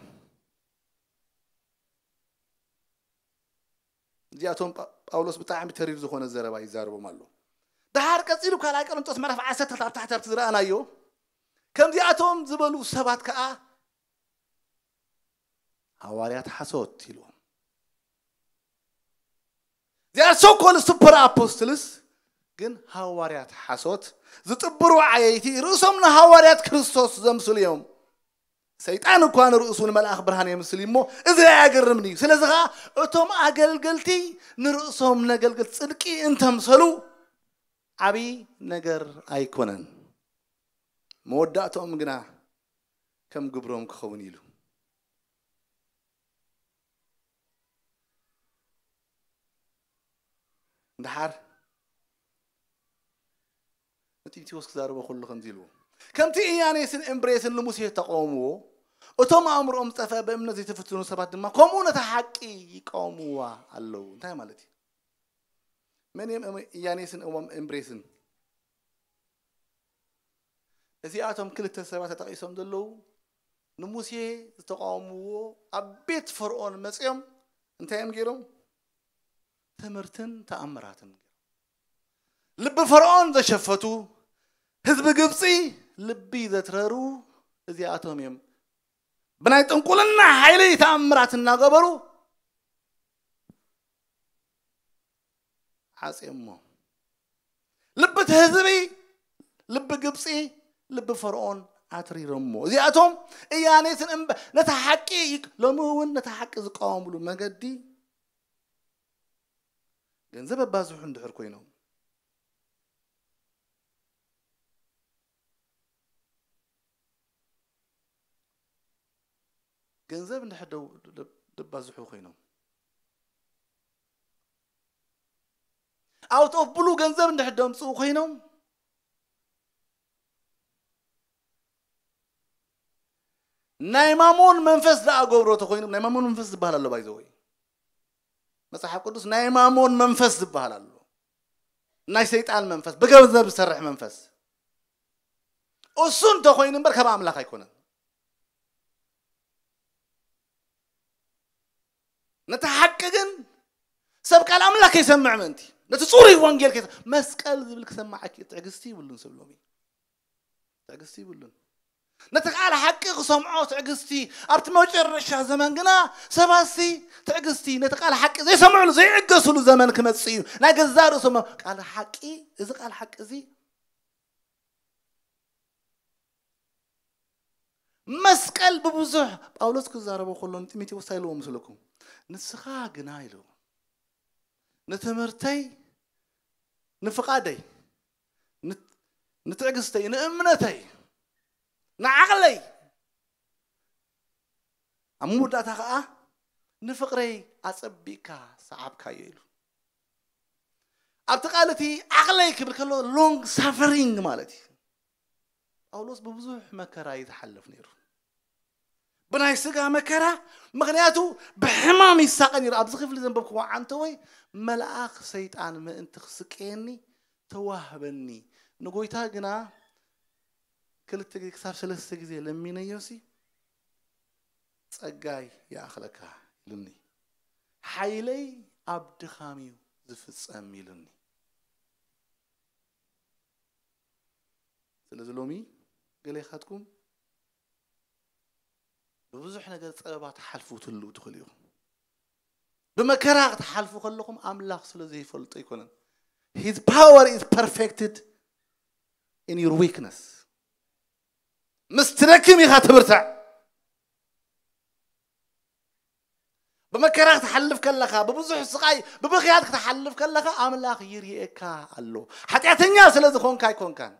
እዚኣቶም ጳውሎስ ብጣዕሚ ተሪር ዝኾነ ዘረባ ይዛረቦም ኣሎ። ድሓር ቀጺሉ ካልኣይ ቆሮንጦስ ምዕራፍ ዓሰርተ ኣብ ታሕቲ ኣብቲ ዝረኣናዮ ከምዚኣቶም ዝበሉ ሰባት ከዓ ሃዋርያት ሓሶት ኢልዎም። They are so called super apostles ግን ሃዋርያት ሓሶት ዝጥብሩ ዓየይቲ ርእሶም ንሃዋርያት ክርስቶስ ዘምስሉ እዮም። ሰይጣን እኳ ንርእሱ ንመልኣኽ ብርሃን የምስል እዩ እሞ እዚ ኣያገርምን እዩ። ስለዚ ከዓ እቶም ኣገልገልቲ ንርእሶም ነገልገልቲ ጽድቂ እንተምሰሉ ዓብዪ ነገር ኣይኮነን። መወዳእትኦም ግና ከም ግብሮም ክኸውን ኢሉ። ደሓር ንጢሞቴዎስ ክዛረቦ ከሎ ከምዚ ኢልዎ ከምቲ እያኔስን እምብሬስን ንሙሴ ተቃወምዎ እቶም ኣእምሮኦም ዝጠፍአ ብእምነት ዘይተፈትኑ ሰባት ድማ ከምኡ ነታ ሓቂ ይቃወምዋ ኣለዉ እንታይ ማለት እዩ መን እዮም እያኔስን እምብሬስን እዚኣቶም ክልተ ሰባት ተጠቒሶም ዘለዉ ንሙሴ ዝተቛወምዎ ኣብ ቤት ፈርኦን መጺኦም እንታይ እዮም ገይሮም? ትምህርትን ተኣምራትን ገይሮም ልቢ ፈርኦን ዘሸፈቱ ህዝቢ ግብፂ ልቢ ዘትረሩ እዚኣቶም እዮም። ብናይ ጥንቁልና ሓይሊ ተኣምራት እናገበሩ ዓጽዮሞ። ልቢ እቲ ህዝቢ፣ ልቢ ግብጺ፣ ልቢ ፈርኦን ኣትሪሮሞ። እዚኣቶም እያኔትን እምበ ነታ ሓቂ ሎሚ እውን ነታ ሓቂ ዝቃወምሉ መገዲ ገንዘብ ኣባዝሑ እንድሕር ኮይኖም ገንዘብ እንድሕር ደባዝሑ ኮይኖም ኣውት ኦፍ ብሉ ገንዘብ እንድሕር ደምፅኡ ኮይኖም ናይ ማሞን መንፈስ ደኣ ገብሮ ተኮይኖም ናይ ማሞን መንፈስ ዝበሃል ኣሎ ባይዘወይ መፅሓፍ ቅዱስ ናይ ማሞን መንፈስ ዝበሃል ኣሎ ናይ ሰይጣን መንፈስ ብገንዘብ ዝሰርሕ መንፈስ እሱ እንተኮይኑ እምበር ካብ ኣምላኽ ኣይኮነን ነቲ ሓቂ ግን ሰብ ቃል ኣምላክ ከይሰምዕ ምእንቲ ነቲ ፅሩይ ወንጌል ከይሰ መስቀል ዝብል ክሰማዕ ኪ ትዕግስቲ ይብሉን ሰብ ሎሚ ትዕግስቲ ይብሉን ነቲ ቃል ሓቂ ክሰምዖ ትዕግስቲ ኣብቲ መጨረሻ ዘመን ግና ሰባሲ ትዕግስቲ ነቲ ቃል ሓቂ ዘይሰምዕሉ ዘይዕገስሉ ዘመን ክመፅእ እዩ ናይ ገዛ ርእሶም ቃል ሓቂ እዚ ቃል ሓቂ እዚ መስቀል ብብዙሕ ጳውሎስ ክዛረቦ ከሎ ንጢሞቴዎስ እንታይ ኢልዎ ምስለኩም ንስኻ ግና ኢልዎ ንትምህርተይ ንፍቓደይ ንትዕግስተይ ንእምነተይ ንዓቕለይ ኣብ መወዳእታ ከዓ ንፍቕረይ ኣጸቢቕካ ሰዓብካዮ ኢሉ ኣብቲ ቃል እቲ ዓቕለይ ክብል ከሎ ሎንግ ሳፈሪንግ ማለት እዩ ጳውሎስ ብብዙሕ መከራ እዩ ዝሓልፍ ነይሩ ብናይ ስጋ መከራ ምክንያቱ ብሕማም ይሳቀ ነይሩ ኣብዚ ክፍሊ ዘንበብክዎ ዓንተወይ መልኣኽ ሰይጣን ምእንቲ ክስቀየኒ ተዋህበኒ ንጎይታ ግና ክልተ ግዜ ክሳብ ሰለስተ ግዜ ለሚነዮሲ ጸጋይ ይኣኽለካ ኢሉኒ ሓይለይ ኣብ ድኻም እዩ ዝፍጸም ኢሉኒ ስለዚ ሎሚ ገሌኻትኩም ብብዙሕ ነገር ጸበባ ትሓልፉ ትህልው ትኽእሉ ኢኹም። ብመከራ ክትሓልፉ ከለኹም ኣምላኽ ስለ ዘይፈልጦ ኣይኮነን። His power is perfected in your weakness. ምስ ትደክም ኢኻ ትብርትዕ። ብመከራ ክትሓልፍ ከለኻ ብብዙሕ ስቓይ ብብኽያት ክትሓልፍ ከለኻ ኣምላኽ ይርኤካ ኣሎ ሓጢኣተኛ ስለ ዝኾንካ ኣይኮንካን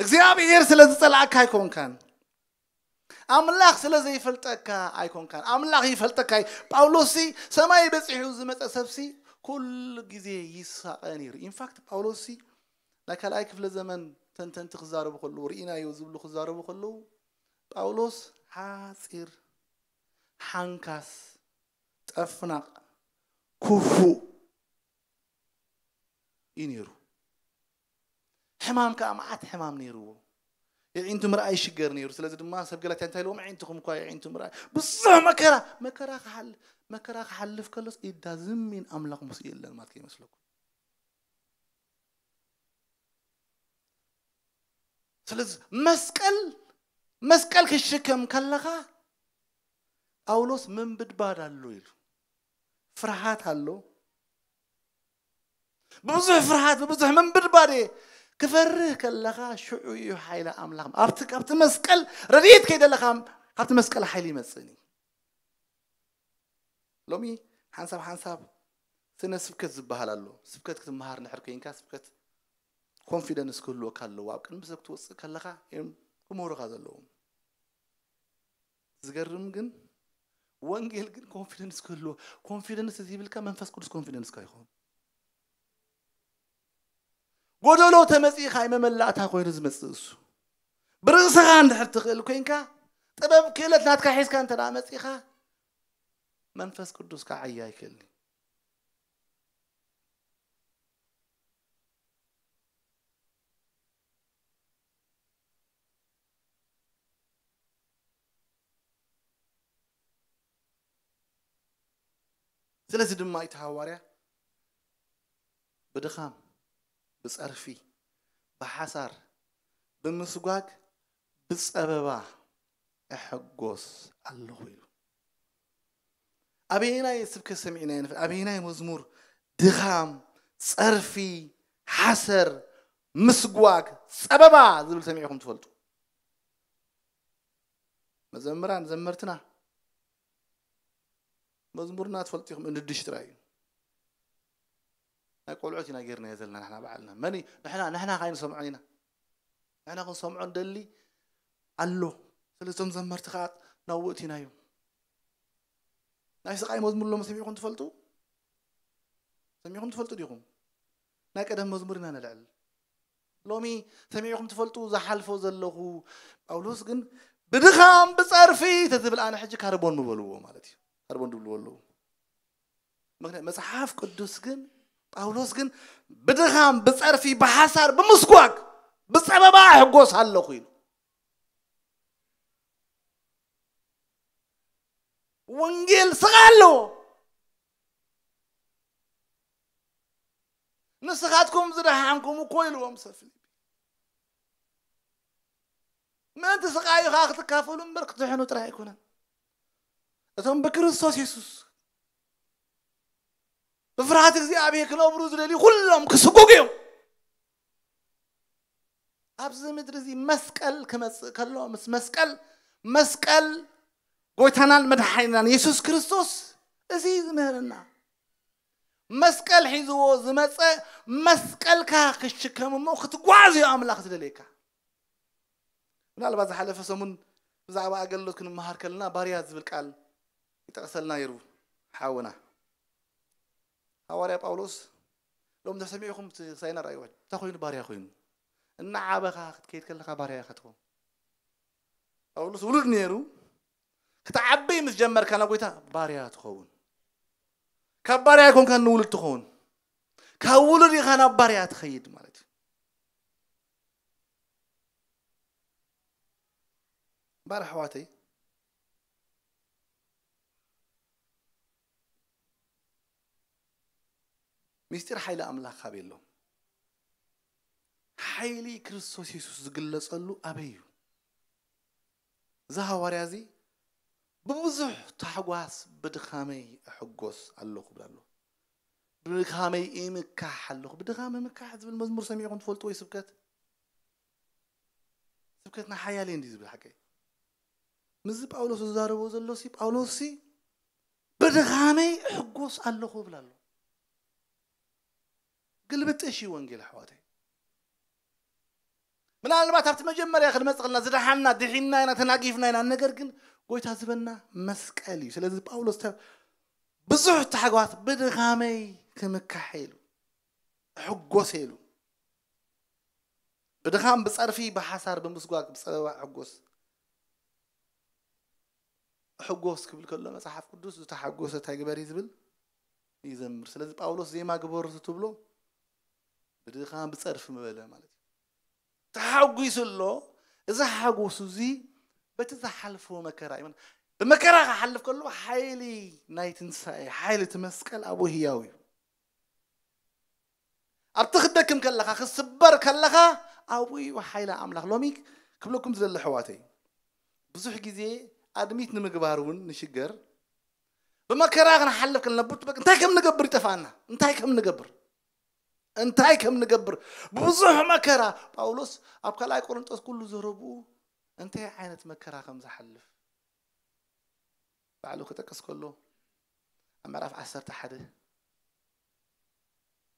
እግዚኣብሔር ስለ ዝጸላእካ ኣይኮንካን ኣምላኽ ስለ ዘይፈልጠካ ኣይኮንካን ኣምላኽ ይፈልጠካ እዩ ጳውሎስሲ ሰማይ በፂሑ ዝመፀ ሰብሲ ኩሉ ግዜ ይሳቐ ነይሩ ኢንፋክት ጳውሎስሲ ናይ ካልኣይ ክፍለ ዘመን ተንተንቲ ክዛረቡ ከለዉ ርኢናዮ ዝብሉ ክዛረቡ ከለዉ ጳውሎስ ሓጺር፣ ሓንካስ፣ ጨፍናቕ፣ ክፉእ እዩ ነይሩ። ሕማም ከኣ መዓት ሕማም ነይርዎ። የዒንቱ ምርኣይ ይሽገር ነይሩ። ስለዚ ድማ ሰብ ገላትያ እንታይ ኢልዎም ኣዒንትኹም እኳ የዒንቱ ምርኣይ ብዙሕ መከራ መከራ ክሓል መከራ ክሓልፍ ከሎስ ኢዳ ዝም ኢን ኣምላኽ ምስኡ የለን ማለት ከይመስለኩም። ስለዚ መስቀል መስቀል ክትሽከም ከለኻ ጳውሎስ ምንብድባድ ኣሎ ኢሉ ፍርሃት ኣሎ ብብዙሕ ፍርሃት ብብዙሕ ምንብድባድ እየ ክፈርህ ከለኻ ሽዑ እዩ ሓይሊ ኣምላኽ ኣብቲ ካብቲ መስቀል ረድኤት ከይደለኻ ካብቲ መስቀል ሓይሊ ይመፅእን እዩ ሎሚ ሓንሳብ ሓንሳብ ስነ ስብከት ዝብሃል ኣሎ ስብከት ክትምሃር እንድሕር ኮንካ ስብከት ኮንፊደንስ ክህልወካ ኣለዎ ኣብ ቅድሚ ሰብ ክትወጽእ ከለኻ እዮም ክምህሩኻ ዘለዎም ዝገርም ግን ወንጌል ግን ኮንፊደንስ ክህልዎ ኮንፊደንስ እዚ ይብልካ መንፈስ ቅዱስ ኮንፊደንስካ ይኸውን ጎደሎ ተመጺእካ እዩ መመላእታ ኮይኑ ዝመጽእ እሱ ብርእስኻ እንድሕር ትኽእል ኮይንካ ጥበብ ክእለት ናትካ ሒዝካ እንተ መጺእኻ መንፈስ ቅዱስ ክዓያ ኣይክእልን እዩ ስለዚ ድማ እቲ ሃዋርያ ብድኻም፣ ብጸርፊ፣ ብሓሳር፣ ብምስጓግ፣ ብጸበባ እሕጎስ ኣለኹ ኢሉ። ኣበየናይ ስብከት ሰሚዕናዮ ንፈልጥ? ኣበየናይ መዝሙር ድኻም፣ ጸርፊ፣ ሓሰር፣ ምስጓግ፣ ጸበባ ዝብል ሰሚዕኹም ትፈልጡ? መዘምራን ዘመርትና መዝሙርና ትፈልጡ ኢኹም እንድሽ ጥራይ እዩ። ናይ ቆልዑት ኢና ጌርናዮ ዘለና ንሕና ባዕልና መን እዩ ንሕና ንሕና ካይ ንሰምዖን ኢና ንሕና ክንሰምዖ ንደሊ ኣሎ ስለዚ እቶም ዘመርቲ ከዓ ናብኡ እቲናዮም ናይ ስቃይ መዝሙር ሎም ሰሚዕኹም ትፈልጡ ሰሚዕኹም ትፈልጡ ዲኹም ናይ ቀደም መዝሙር ኢና ነልዕል ሎሚ ሰሚዕኹም ትፈልጡ ዝሓልፎ ዘለኹ ጳውሎስ ግን ብድኻም ብፀርፊ ተዝብል ኣነ ሕጂ ካርቦን ምበልዎ ማለት እዩ ካርቦን ድብልዎ ኣለዉ ምክንያት መጽሓፍ ቅዱስ ግን ጳውሎስ ግን ብድኻም ብጸርፊ ብሓሳር ብምስጓግ ብጸበባ ሕጎስ ኣለኹ ኢሉ ወንጌል ስጋ ኣለዎ ንስኻትኩም ዝደሓንኩም እኮ ኢልዎም ሰብ ፊልጵ ምእንቲ ስቃዩኻ ክትካፈሉ እምበር ክትድሕኑ ጥራይ ኣይኮነን እቶም ብክርስቶስ የሱስ ብፍርሃት እግዚኣብሔር ክነብሩ ዝደልዩ ኩሎም ክስጉጉ እዮም ኣብዚ ምድሪ እዚ መስቀል ክመፅእ ከሎ ምስ መስቀል መስቀል ጎይታናን መድሓኒናን የሱስ ክርስቶስ እዚ ዝምህርና መስቀል ሒዝዎ ዝመፀ መስቀልካ ክሽከም እሞ ክትጓዓዝ እዩ ኣምላኽ ዝደልየካ ምናልባት ዝሓለፈ ሰሙን ብዛዕባ ኣገልግሎት ክንመሃር ከለና ባርያ ዝብል ቃል ይጠቕሰልና ነይሩ ሓውና ሃዋርያ ጳውሎስ ሎም ተሰሚዕኹም ሳይና ራእይ ውሕድ እንታይ ኮይኑ ባርያ ኮይኑ እናዓበኻ ክትከይድ ከለኻ ባርያ ኢኻ ትኸውን ጳውሎስ ውሉድ ነይሩ ክትዓበይ ምስ ጀመርካ ናብ ጎይታ ባርያ ትኸውን ካብ ባርያ ኮንካ ንውሉድ ትኸውን ካብ ውሉድ ኢኻ ናብ ባርያ ትኸይድ ማለት እዩ እምበር ኣሕዋተይ ምስጢር ሓይሊ ኣምላኽ ኣበይ ኣሎ? ሓይሊ ክርስቶስ የሱስ ዝግለጸሉ ኣበይ እዩ? እዚ ሃዋርያ እዚ ብብዙሕ ታሕጓስ ብድኻመይ እሕጎስ ኣሎኹ ይብል ኣሎ። ብድኻመይ እምካሕ ኣሎኹ። ብድኻም እምካሕ ዝብል መዝሙር ሰሚዕኩም ትፈልጡ ወይ ስብከት? ስብከትና ሓያል እየ እንዲዩ ዝብል ሓቀይ። ምስዚ ጳውሎስ ዝዛረቦ ዘሎሲ ጳውሎስሲ ብድኻመይ እሕጎስ ኣሎኹ ይብል ኣሎ። ግልብጥ እሺ ወንጌል ኣሕዋተይ። ምናልባት ኣብቲ መጀመርያ ክንመጽእ ከለና ዝደሓና ድሒና ኢና ተናጊፍና ኢና ነገር ግን ጎይታ ዝበና መስቀል እዩ ስለዚ ጳውሎስ ተ ብዙሕ ታሕጓት ብድኻመይ ክምካሕ ኢሉ እሕጎስ ኢሉ ብድኻም ብጸርፊ ብሓሳር ብምስጓግ ብጸበባ እሕጎስ ሕጎስ ክብል ከሎ መጽሓፍ ቅዱስ ዝተሓጎሰ እንታይ ግበር እዩ ዝብል ይዘምር ስለዚ ጳውሎስ ዜማ ግበሩ ትብሎ ብድኻም ብጸርፊ ምበለ ማለት እዩ ተሓጒሱ ኣሎ እዚ ሓጎሱ እዚ በቲ ዝሓልፎ መከራ እዩ ብመከራ ክሓልፍ ከሎ ሓይሊ ናይ ትንሳኤ ሓይሊ እቲ መስቀል ኣብኡ ህያው እዩ ኣብቲ ክደክም ከለኻ ክትስበር ከለኻ ኣብኡ እዩ ሓይሊ ኣምላኽ ሎሚ ክብለኩም ዝደሊ ኣሕዋተይ ብዙሕ ግዜ ኣድሚት ንምግባር እውን ንሽገር ብመከራ ክንሓልፍ ከለና ብ- በቃ እንታይ ከም ንገብር ይጠፍኣና እንታይ ከም ንገብር እንታይ ከም ንገብር ብዙሕ መከራ ጳውሎስ ኣብ ካልኣይ ቆሮንጦስ ኩሉ ዘረብኡ እንታይ ዓይነት መከራ ከም ዝሓልፍ ባዕሉ ክጠቅስ ከሎ ኣብ ምዕራፍ ዓሰርተ ሓደ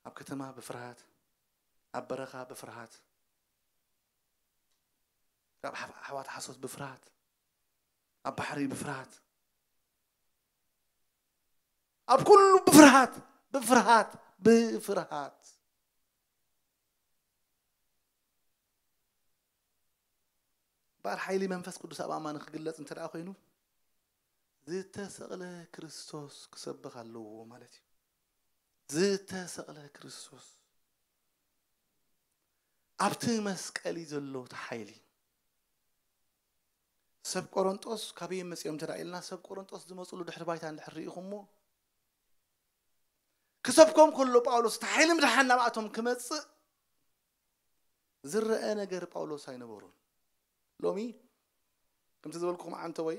ኣብ ከተማ ብፍርሃት ኣብ በረኻ ብፍርሃት ካብ ኣሕዋት ሓሶት ብፍርሃት ኣብ ባሕሪ ብፍርሃት ኣብ ኩሉ ብፍርሃት ብፍርሃት ብፍርሃት እምበኣር ሓይሊ መንፈስ ቅዱስ ኣብ ኣማኒ ክግለጽ እንተ ደኣ ኮይኑ ዝተሰቕለ ክርስቶስ ክሰብኽ ኣለዎ ማለት እዩ ዝተሰቕለ ክርስቶስ ኣብቲ መስቀል እዩ ዘሎ እቲ ሓይሊ ሰብ ቆረንጦስ ካበይ'ዮም መጺኦም እንተ ኢልና፣ ሰብ ቆረንጦስ ዝመጹሉ ድሕሪ ባይታ እንድሕር ርኢኹምዎ፣ ክሰብኮም ከሎ ጳውሎስ እቲ ሓይሊ ምድሓን ናብኣቶም ክመጽእ ዝረኣ ነገር ጳውሎስ ኣይነበሮን። ሎሚ ከምቲ ዝበልኩኹም ዓንተወይ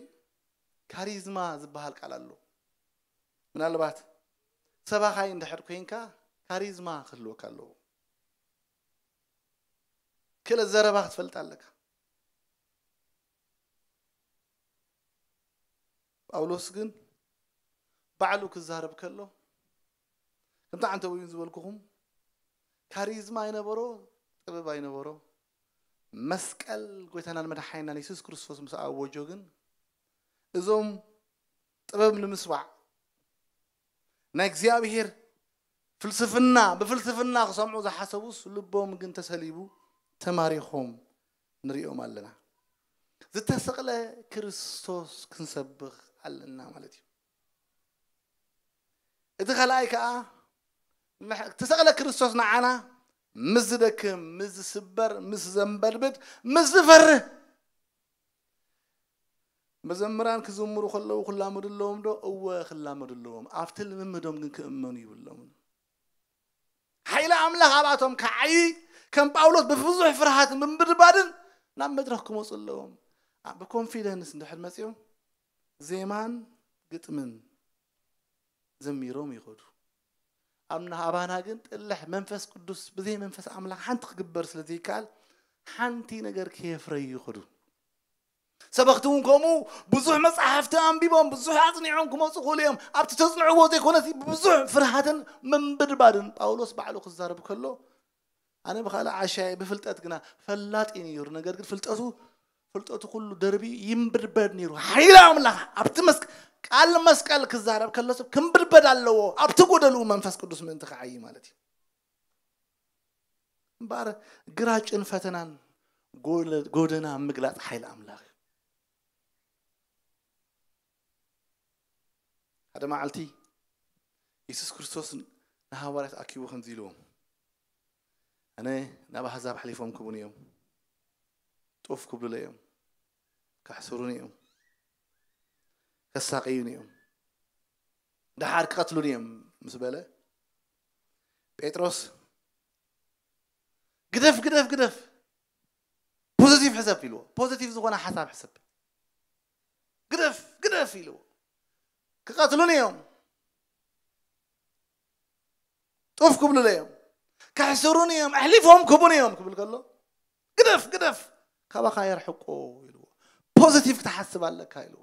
ካሪዝማ ዝበሃል ቃል ኣሎ። ምናልባት ሰባኻይ እንድሕር ኮይንካ ካሪዝማ ክህልወካ ኣለዎ። ክእለት ዘረባ ክትፈልጥ ኣለካ። ጳውሎስ ግን ባዕሉ ክዛረብ ከሎ ከምቲ ዓንተዊውን ዝበልኩኹም ካሪዝማ ኣይነበሮ ጥበብ ኣይነበሮ መስቀል ጎይታናን መድሓኒናን የሱስ ክርስቶስ ምስ ኣወጆ ግን እዞም ጥበብ ንምስባዕ ናይ እግዚኣብሄር ፍልስፍና ብፍልስፍና ክሰምዑ ዝሓሰቡስ ልቦም ግን ተሰሊቡ ተማሪኾም ንሪኦም ኣለና። ዝተሰቕለ ክርስቶስ ክንሰብኽ ኣለና ማለት እዩ። እቲ ካልኣይ ከዓ ዝተሰቕለ ክርስቶስ ንዓና ምስ ዝደክም፣ ምስ ዝስበር፣ ምስ ዘንበድብድ፣ ምስ ዝፈርህ መዘምራን ክዝምሩ ከለዉ ክላመዱ ኣለዎም ዶ? እወ ክላመዱ ኣለዎም። ኣብቲ ልምምዶም ግን ክእመኑ ይብሎምን። ሓይሊ ኣምላኽ ኣብኣቶም ክዓይይ ከም ጳውሎስ ብብዙሕ ፍርሃትን ብምብድባድን ናብ መድረኽ ክመፁ ኣለዎም። ብኮንፊደንስ እንድሕር መፂኦም ዜማን ግጥምን ዘሚሮም ይኸዱ ኣብና ኣባና ግን ጥልሕ መንፈስ ቅዱስ ብዘይ መንፈስ ኣምላኽ ሓንቲ ክግበር ስለ ዘይከኣል ሓንቲ ነገር ከየፍረዩ ይኸዱ ሰበኽቲ እውን ከምኡ ብዙሕ መፅሓፍቲ ኣንቢቦም ብዙሕ ኣፅኒዖም ክመፁ ክእሉ እዮም ኣብቲ ተፅንዕዎ ዘይኮነስ ብብዙሕ ፍርሃትን ምንብድባድን ጳውሎስ ባዕሉ ክዛረብ ከሎ ኣነ ብካልእ ዓሻ እየ ብፍልጠት ግና ፈላጥ እዩ ነይሩ ነገር ግን ፍልጠቱ ፍልጠቱ ኩሉ ደርቢ ይንብድበድ ነይሩ ሓይሊ ኣምላኽ ኣብቲ መስቀል ቃል መስቀል ክዛረብ ከሎ ሰብ ክንብድበድ ኣለዎ ኣብቲ ጎደልኡ መንፈስ ቅዱስ ምእንቲ ክዓይ ማለት እዩ እምበኣር ግራጭን ፈተናን ጎደና ምግላፅ ሓይሊ ኣምላኽ ሓደ መዓልቲ የሱስ ክርስቶስ ንሃዋርያት ኣኪቡ ከምዚ ኢልዎም ኣነ ናብ ኣሕዛብ ሓሊፎም ክቡን እዮም ጡፍ ክብሉለ እዮም ካሕስሩን እዮም ከሳቀዩን እዮም ደሓር ክቐትሉን እዮም ምስ በለ ጴጥሮስ ግደፍ ግደፍ ግደፍ ፖዘቲቭ ሕሰብ ኢልዎ ፖዘቲቭ ዝኾነ ሓሳብ ሕሰብ ግደፍ ግደፍ ኢልዎ ክቐትሉኒ እዮም ጡፍ ክብሉለ እዮም ከሕስሩኒ እዮም ኣሕሊፎም ክቡኒ እዮም ክብል ከሎ ግደፍ ግደፍ ካባኻ የርሕቁ ኢልዎ ፖዚቲቭ ክትሓስብ ኣለካ ኢልዎ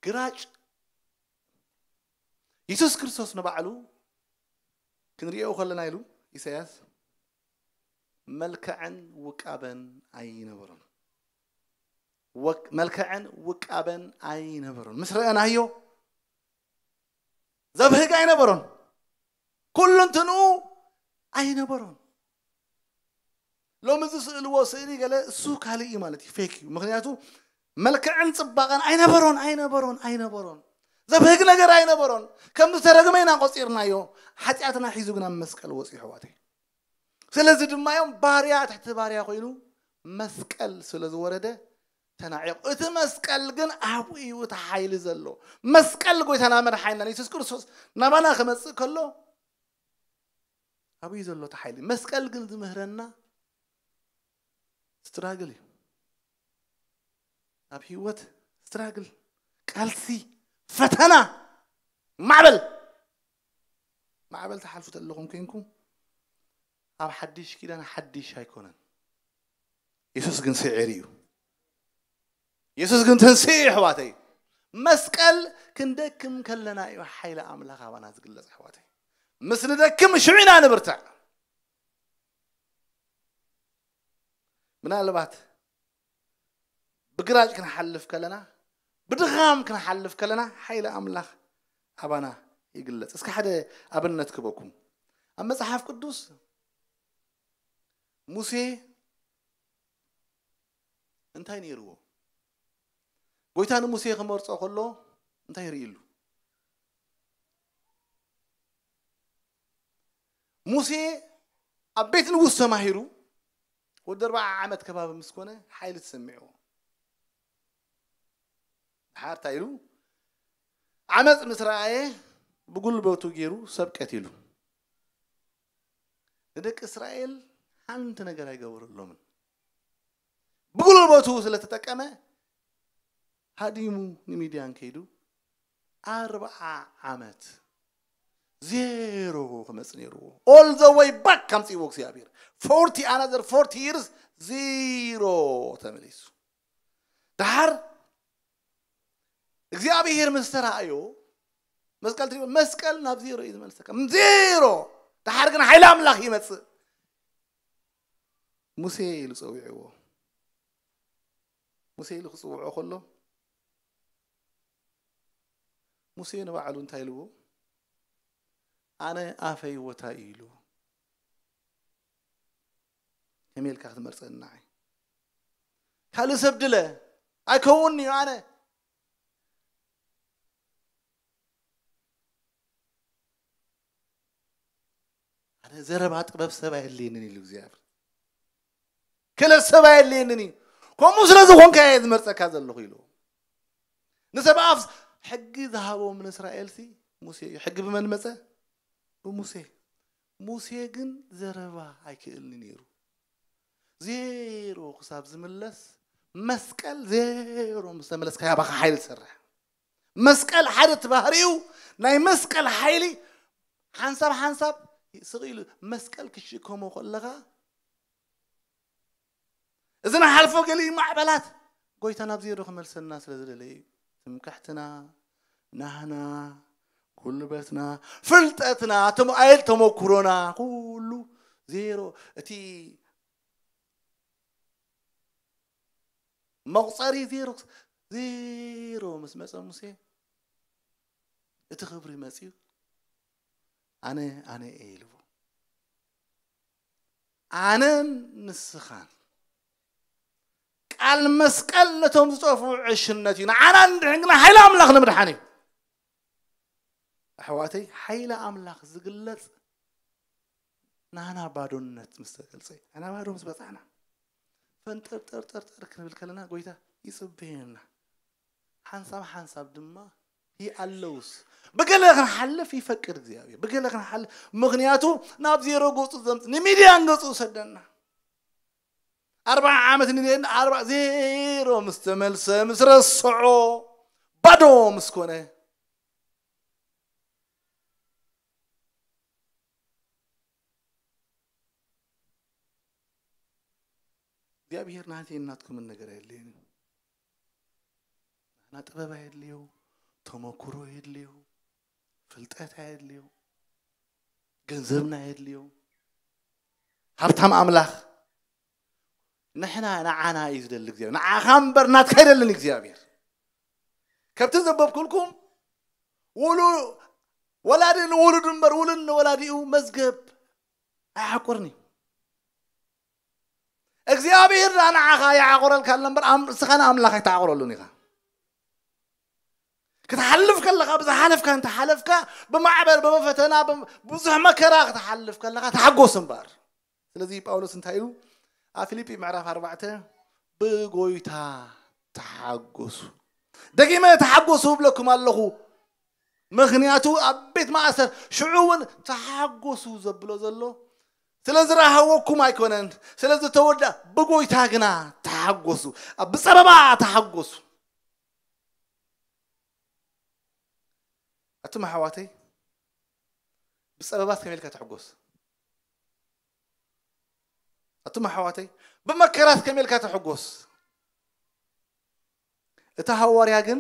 ግራጭ የሱስ ክርስቶስ ንባዕሉ ክንሪኦ ከለና ኢሉ ኢሳያስ መልክዕን ውቃበን ኣይነበሮን መልክዕን ውቃበን ኣይነበሮን ምስ ረአናዮ ዘብህግ ኣይነበሮን ኩሉ እንትንኡ ኣይነበሮን ሎሚ ዝስእልዎ ስእሊ ገለ እሱ ካልእ እዩ ማለት እዩ ፌክ እዩ ምክንያቱ መልክዕን ጽባቐን ኣይነበሮን ኣይነበሮን ኣይነበሮን ዘብህግ ነገር ኣይነበሮን ከም ዝተረግመ ኢና ቆጺርናዮ ሓጢኣትና ሒዙ ግን ኣብ መስቀል ወጽዩ ኣሕዋተይ ስለዚ ድማ እዮም ባርያ ትሕቲ ባርያ ኮይኑ መስቀል ስለ ዝወረደ ተናዒቑ እቲ መስቀል ግን ኣብኡ እዩ እቲ ሓይሊ ዘሎ መስቀል ጎይታና መድሓኒና የሱስ ክርስቶስ ናባና ክመፅእ ከሎ ኣበይ እዩ ዘሎ እቲ ሓይሊ? መስቀል ግን ዝምህረና ስትራግል እዩ። ኣብ ህይወት ስትራግል፣ ቃልሲ፣ ፈተና፣ ማዕበል ማዕበል ትሓልፉ ዘለኹም ኮንኩም ኣብ ሓድሽ ኪዳን ሓድሽ ኣይኮነን። የሱስ ግን ስዒሩ እዩ። የሱስ ግን ትንስኡ እዩ ኣሕዋተይ መስቀል ክንደክም ከለና እዩ ሓይሊ ኣምላኽ ኣባና ዝግለጽ ኣሕዋተይ ምስ ንደክም ሽዑ ኢና ንብርትዕ ምናልባት ብግራጭ ክንሓልፍ ከለና ብድኻም ክንሓልፍ ከለና ሓይሊ ኣምላኽ ኣባና ይግለጽ እስከ ሓደ ኣብነት ክበኩም ኣብ መጽሓፍ ቅዱስ ሙሴ እንታይ ነይርዎ? ጎይታ ንሙሴ ክመርጾ ከሎ እንታይ ርእዩሉ? ሙሴ ኣብ ቤት ንጉስ ተማሂሩ ወዲ ኣርባዓ ዓመት ከባቢ ምስ ኮነ ሓይሊ ተሰሚዕዎ ድሓር እንታይ ኢሉ ዓመፅ ምስ ረኣየ ብጉልበቱ ገይሩ ሰብ ቀቲሉ ንደቂ እስራኤል ሓንቲ ነገር ኣይገበረሎምን። ብጉልበቱ ስለ ተጠቀመ ሃዲሙ ንሚድያን ከይዱ ኣርብዓ ዓመት ዜሮ ክመፅ ነይርዎ ኦል ዘ ወይ ባክ ከምፅዎ እግዚኣብሔር ፎርቲ ኣናዘር ፎርቲ ይርስ ዜሮ ተመሊሱ ድሓር እግዚኣብሔር ምስ ተራእዮ መስቀል ትሪኦ መስቀል ናብ ዜሮ እዩ ዝመልሰካ ዜሮ ድሓር ግን ሓይሊ ኣምላኽ ይመፅእ ሙሴ ኢሉ ፀዊዕዎ ሙሴ ኢሉ ክፅውዖ ከሎ ሙሴ ንባዕሉ እንታይ ኢልዎ ኣነ ኣፈይ ወታይ ኢሉ ከመይ ኢልካ ክትመርፀኒ ንዓይ ካልእ ሰብ ድለ ኣይከውን እዩ ኣነ ኣነ ዘረባ ጥበብ ሰብ ኣየድልየንን ኢሉ እግዚኣብሔር ክለት ሰብ ኣየድልየንን እዩ ከምኡ ስለ ዝኾንካ እየ ዝመርፀካ ዘለኹ ኢሉ ንሰብ ኣፍ ሕጊ ዝሃቦም ንእስራኤልሲ ሙሴ እዩ ሕጊ ብመን መፀ ብሙሴ ሙሴ ግን ዘረባ ኣይክእልን'ዩ ነይሩ። ዜሮ ክሳብ ዝምለስ መስቀል ዜሮ ምስ ተመለስካያ ባኻ ሓይሊ ትሰርሕ። መስቀል ሓደ እቲ ባህሪኡ ናይ መስቀል ሓይሊ ሓንሳብ ሓንሳብ ስቕ ኢሉ መስቀል ክትሽከሞ ከለኻ እዚ ንሓልፎ ገሊኡ ማዕበላት ጎይታ ናብ ዜሮ ክመልሰና ስለ ዝደለየ እዩ። ትምክሕትና፣ ናህና፣ ጉልበትና፣ ፍልጠትና፣ ተሞ ኣይል ተሞክሮና ኩሉ ዜሮ እቲ መቑፀሪ ዜሮ ዜሮ ምስ መፀ ሙሴ እቲ ክብሪ መፅዩ ኣነ ኣነ እየ ኢልዎ ኣነን ንስኻን ቃል መስቀል ነቶም ዝጠፍኡ ዕሽነት እዩ ንዓና ንድሕን ግና ሓይሊ ኣምላኽ ንምድሓን እዩ ኣሕዋተይ ሓይሊ ኣምላኽ ዝግለጽ ናና ባዶነት ምስ ተገልጸ እዩ ናና ባዶ ምስ በጻሕና ፈንጠርጠርጠርጠር ክንብል ከለና ጎይታ ይጽበየና ሓንሳብ ሓንሳብ ድማ ይኣለውስ ብገለ ክንሓልፍ ይፈቅድ እግዚኣብሔር ብገለ ክንሓልፍ ምክንያቱ ናብ ዜሮ ገፁ ዘምፅ ንሚድያን ገፁ ዝሰደና ኣርባዓ ዓመት ንሌን ኣርባ ዜሮ ምስ ተመልሰ ምስ ረስዖ ባዶ ምስ ኮነ እግዚኣብሔር ናተይ ናትኩምን ነገር የለይን ንሕና ጥበብ ኣየድልዩ ተመኩሮ ኣየድልዩ ፍልጠት ኣየድልዩ ገንዘብና ኣየድልዩ ሃብታም ኣምላኽ ንሕና ንዓና እዩ ዝደሊ እግዚኣብሔር ንዓኻ እምበር ናትካ ኣይደልን እግዚኣብሔር ከብቲ ዘበብኩልኩም ውሉ ወላዲ ንውሉድ እምበር ውሉድ ንወላዲኡ መዝገብ ኣይሓቁርን እዩ እግዚኣብሄር ደኣ ንዓኻ ይዓቑረልካ ኣሎ እምበር ኣም- ንስኻ ንኣምላኽ ኣይትዓቑረሉን ኢኻ ክትሓልፍ ከለኻ ብዝሓለፍካ እንተሓለፍካ ብማዕበል ብፈተና ብም- ብዙሕ መከራ ክትሓልፍ ከለኻ ተሓጎስ እምበር ስለዚ ጳውሎስ እንታይ እዩ ኣብ ፊልጲ ምዕራፍ ኣርባዕተ ብጎይታ ተሓጎሱ ደጊመ ተሓጎሱ እብለኩም ኣለኹ ምክንያቱ ኣብ ቤት ማእሰር ሽዑ እውን ተሓጎሱ ዘብሎ ዘሎ ስለ ዝረሃወኩም ኣይኮነን፣ ስለ ዝተወድኣ፣ ብጐይታ ግና ተሓጐሱ፣ ኣብ ብጸበባ ተሓጐሱ። ኣቱም ኣሕዋተይ፣ ብጸበባስ ከመይ ኢልካ ትሕጐስ? ኣቱም ኣሕዋተይ፣ ብመከራስ ከመይ ኢልካ ትሕጐስ? እቲ ሃዋርያ ግን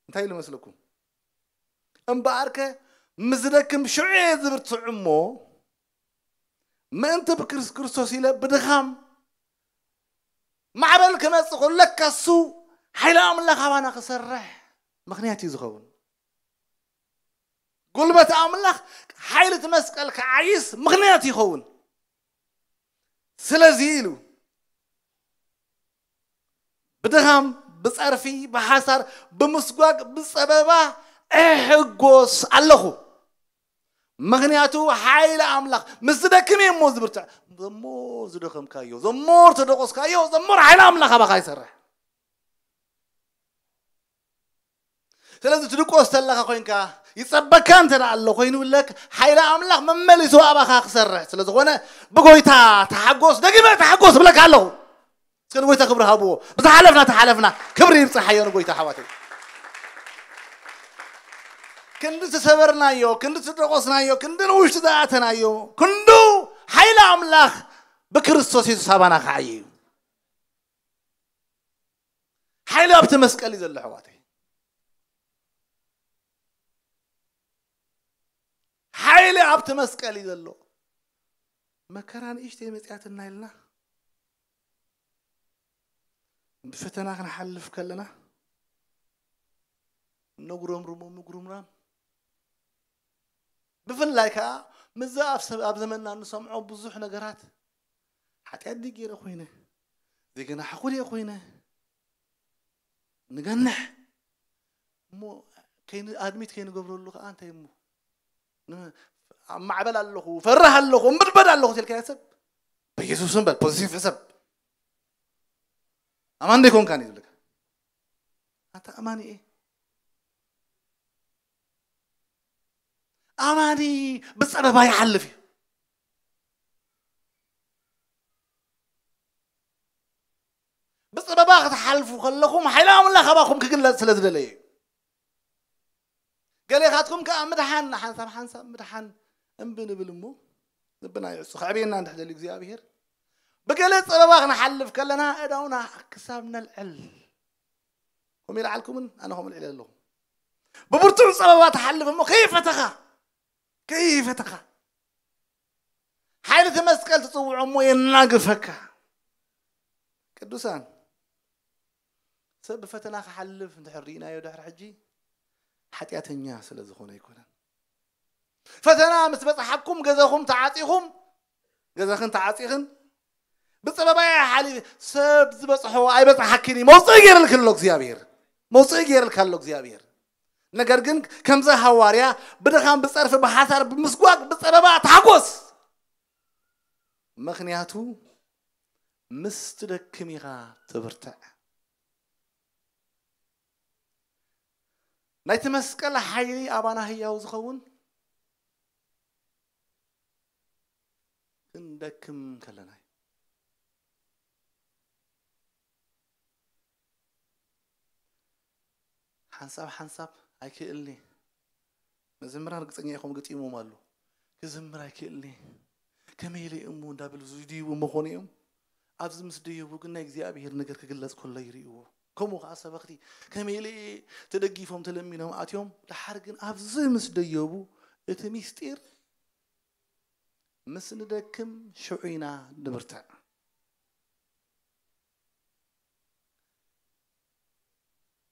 እንታይ ኢሉ መስለኩም? እምበኣርከ ምስ ዝደክም ሽዑ'የ ዝብርትዕ እሞ፣ ምእንቲ ብክርስቶስ ኢለ ብድኻም ማዕበል ክመጽእ ከሎ፣ ለካ እሱ ሓይሊ ኣምላኽ ኣባና ክሰርሕ ምኽንያት እዩ ዝኸውን። ጉልበት ኣምላኽ ሓይሊ እቲ መስቀል ክዓይስ ምኽንያት ይኸውን። ስለዚ ኢሉ ብድኻም፣ ብጸርፊ፣ ብሓሳር፣ ብምስጓግ፣ ብጸበባ እሕጎስ ኣለኹ። ምኽንያቱ ሓይሊ ኣምላኽ ምስ ዝደክም እየ እሞ ዝብርትዕ። ዘሞ ዝደኸምካዮ፣ ዘሞ ዝተደቖስካዮ፣ ዘሞ ሓይሊ ኣምላኽ ኣባኻ ይሰርሕ። ስለዚ ትድቆስ ተለኻ ኮይንካ ይጸበካ እንተ ኣሎ ኮይኑ ለክ ሓይሊ ኣምላኽ መመሊሱ ኣባኻ ክሰርሕ ስለ ዝኾነ ብጎይታ ተሓጎስ ደጊመ ተሓጎስ ብለካ ኣለኹ እስከ ንጎይታ ክብሪ ሃብዎ ብዝሓለፍና ተሓለፍና ክብሪ ይብጽሓዮ ንጎይታ ኣሕዋተይ ክንዲ ዝተሰበርናዮ ክንዲ ዝተደቆስናዮ ክንዲ ንውሽጢ ዝኣተናዮ ክንዱ ሓይሊ ኣምላኽ ብክርስቶስ የሱስ ኣባና ክዓይ እዩ ሓይሊ ኣብቲ መስቀል እዩ ዘሎ ኣሕዋተይ ሓይሊ ኣብቲ መስቀል እዩ ዘሎ መከራ ንእሽተይ መፅያትና ኢልና ብፈተና ክንሓልፍ ከለና ነጉረምርሞ ምጉርምራም ብፍላይ ከዓ ምዛ ኣብ ዘመንና እንሰምዖ ብዙሕ ነገራት ሓጢኣት ድየ ገይረ ኮይነ? ዘይገናሕኹ ድየ ኮይነ? ንገንሕ እሞ ኣድሚት ከይንገብረሉ ከዓ እንታይ እሞ ኣብ ማዕበል ኣለኹ ፈርህ ኣለኹ እምብድበድ ኣለኹ ትልካ ሰብ በኢየሱስ እምበል ፖዚቲቭ ሕሰብ ኣማን ደይኮንካን እዩ ዝብለካ ኣንታ ኣማኒ እየ ኣማኒ ብፀበባ ይሓልፍ እዩ ብፅበባ ክትሓልፉ ከለኹም ሓይሊ ኣምላኽ ኣባኹም ክግለፅ ስለ ዝደለየ እዩ ገሌኻትኩም ከዓ ምድሓን ሓንሳብ ሓንሳብ ምድሓን እምቢ ንብል እሞ ልብና ይዕፁ ከዕብየና እንድሕ ደልዩ እግዚኣብሔር ብገለ ፀበባ ክንሓልፍ ከለና እዳውና ክሳብ ነልዕል ከምኡ ይልዓልኩምን ኣነ ከምኡ ልዕለ ኣለኹ ብብርቱዕ ፀበባ ትሓልፍ እሞ ከይፈተኻ ከይፈተኻ ሓይልቲ መስቀል ትጽውዖ እሞ የናግፈካ። ቅዱሳን ሰብ ብፈተና ክሓልፍ እንድሕር ርኢናዮ ድሕሪ ሕጂ ሓጢኣተኛ ስለ ዝኾነ ኣይኮነን። ፈተና ምስ በጽሓኩም ገዛኹም ተዓጺኹም ገዛኽን ተዓጺኽን ብጸበባ እየ ሓሊፈ ሰብ ዝበጽሖ ኣይበጽሓኪን እዩ መውጽኢ ገይረልኪ ኣሎ እግዚኣብሔር መውጽኢ ገይረልካ ኣሎ እግዚኣብሔር ነገር ግን ከምዚ ሃዋርያ ብድኻም ብጸርፊ ብሓሳር ብምስጓግ ብጸበባ ተሓጎስ ምክንያቱ ምስ ትደክም ኢኻ ትብርትዕ ናይቲ መስቀል ሓይሊ ኣባና ህያው ዝኸውን ክንደክም ከለና እዩ። ሓንሳብ ሓንሳብ ኣይክእልኒ መዘምራን ርግፀኛ ኢኹም ግጢሞም ኣሉ ክዝምር ኣይክእልኒ ከመይ ኢለ እሞ እንዳበሉ ዝድይቡ መኾኑ እዮም ኣብዚ ምስ ደየቡ ግን ናይ እግዚኣብሄር ነገር ክግለፅ ከሎ ይርእዎ ከምኡ ከኣ ሰበኽቲ ከመይለየ ተደጊፎም ተለሚኖም ኣትዮም ደሓር ግን ኣብዚ ምስ ደየቡ እቲ ሚስጢር ምስ ንደክም ሽዑ ኢና ንብርትዕ።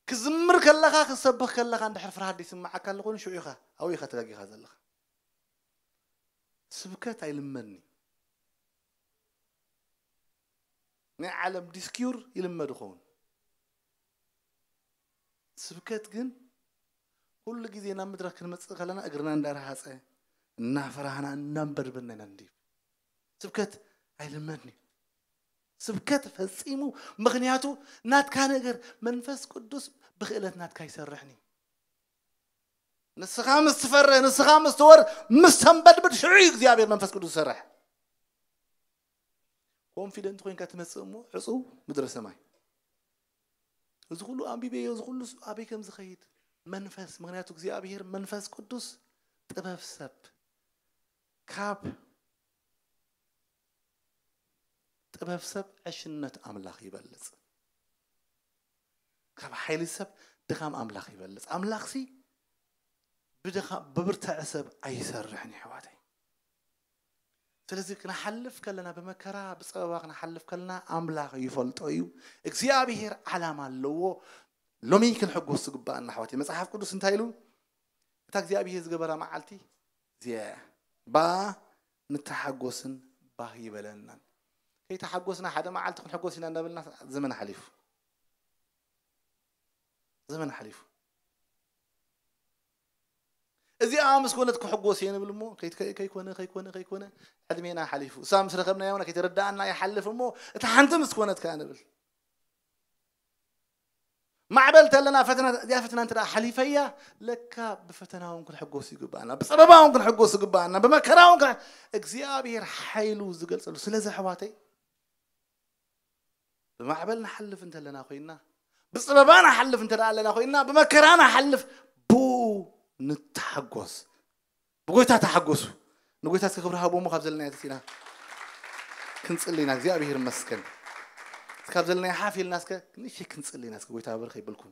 ክዝምር ከለኻ ክትሰብኽ ከለኻ እንድሕር ፍርሃት ዘይስምዓካ ኣሎ ኮይኑ ሽዑ ኢኻ ኣብኡ ኢኻ ተጋጊኻ ዘለኻ። ስብከት ኣይልመድን እዩ። ናይ ዓለም ዲስኪዩር ይልመድ ይኸውን። ስብከት ግን ኩሉ ግዜ ናብ ምድራ ክንመጽእ ከለና እግርና እንዳረሃጸ እናፈራህና እናንበድበና ኢና ንድይብ። ስብከት ኣይልመድን እዩ። ስብከት ፈጺሙ ምክንያቱ ናትካ ነገር መንፈስ ቅዱስ ብክእለት ናትካ ይሰርሕን እዩ። ንስኻ ምስ ትፈርህ ንስኻ ምስ ትወር ምስ ተንበድብድ ሽዑ እዩ እግዚኣብሔር መንፈስ ቅዱስ ዝሰርሕ። ኮንፊደንት ኮይንካ ትመጽእ እሞ ዕጹው ምድረ ሰማይ እዚ ኩሉ ኣንቢበዮ እዚ ኩሉ ኣበይ ከም ዝኸይድ መንፈስ ምክንያቱ እግዚኣብሄር መንፈስ ቅዱስ ጥበብ ሰብ ካብ ጥበብ ሰብ ዕሽነት ኣምላኽ ይበልጽ ካብ ሓይሊ ሰብ ድኻም ኣምላኽ ይበልጽ ኣምላኽሲ ብድኻ ብብርታዐ ሰብ ኣይሰርሕን ይሕዋተይ ስለዚ ክንሓልፍ ከለና ብመከራ ብጸበባ ክንሓልፍ ከለና ኣምላኽ ይፈልጦ እዩ እግዚኣብሄር ዓላማ ኣለዎ ሎሚ ክንሕጎስ ዝግባኣና ኣሕዋት መጽሓፍ ቅዱስ እንታይ ኢሉ እታ እግዚኣብሄር ዝገበራ መዓልቲ እዚኣ ብኣ ንተሓጎስን ባህ ይበለናን ከይተሓጎስና ሓደ መዓልቲ ክንሕጎስ ኢና እንዳበልና ዘመን ሓሊፉ ዘመን ሓሊፉ እዚኣ ምስ ኮነት ክሕጎስ እየ ንብል እሞ ከይኮነ ከይኮነ ከይኮነ ዕድሜና ሓሊፉ እሳ ምስ ረኸብናዮ ውን ከይተረዳእና ይሓልፍ እሞ እታ ሓንቲ ምስ ኮነት ከኣ ንብል ማዕበል ተለና ፈተና እዚኣ ፈተና እንተ ሓሊፈያ ለካ ብፈተና እውን ክንሕጎስ ይግባኣና ብፀበባ እውን ክንሕጎስ ይግባኣና ብመከራ እውን እግዚኣብሔር ሓይሉ ዝገልፀሉ ስለዚ ኣሕዋተይ ብማዕበል ንሓልፍ እንተለና ኮይና ብፅበባ ንሓልፍ እንተ ኣለና ኮይና ብመከራ ንሓልፍ ብኡ ንተሓጎስ ብጎይታ ተሓጎሱ ንጎይታ እስከ ክብሪ ሃቦሞ ካብ ዘለና ተሲና ክንፅሊ ኢና እግዚኣብሄር መስከን ካብ ዘለና ሓፍ ኢልና እስከ ንእሽተይ ክንፅሊ ኢና እስከ ጎይታ ብር ከይበልኩም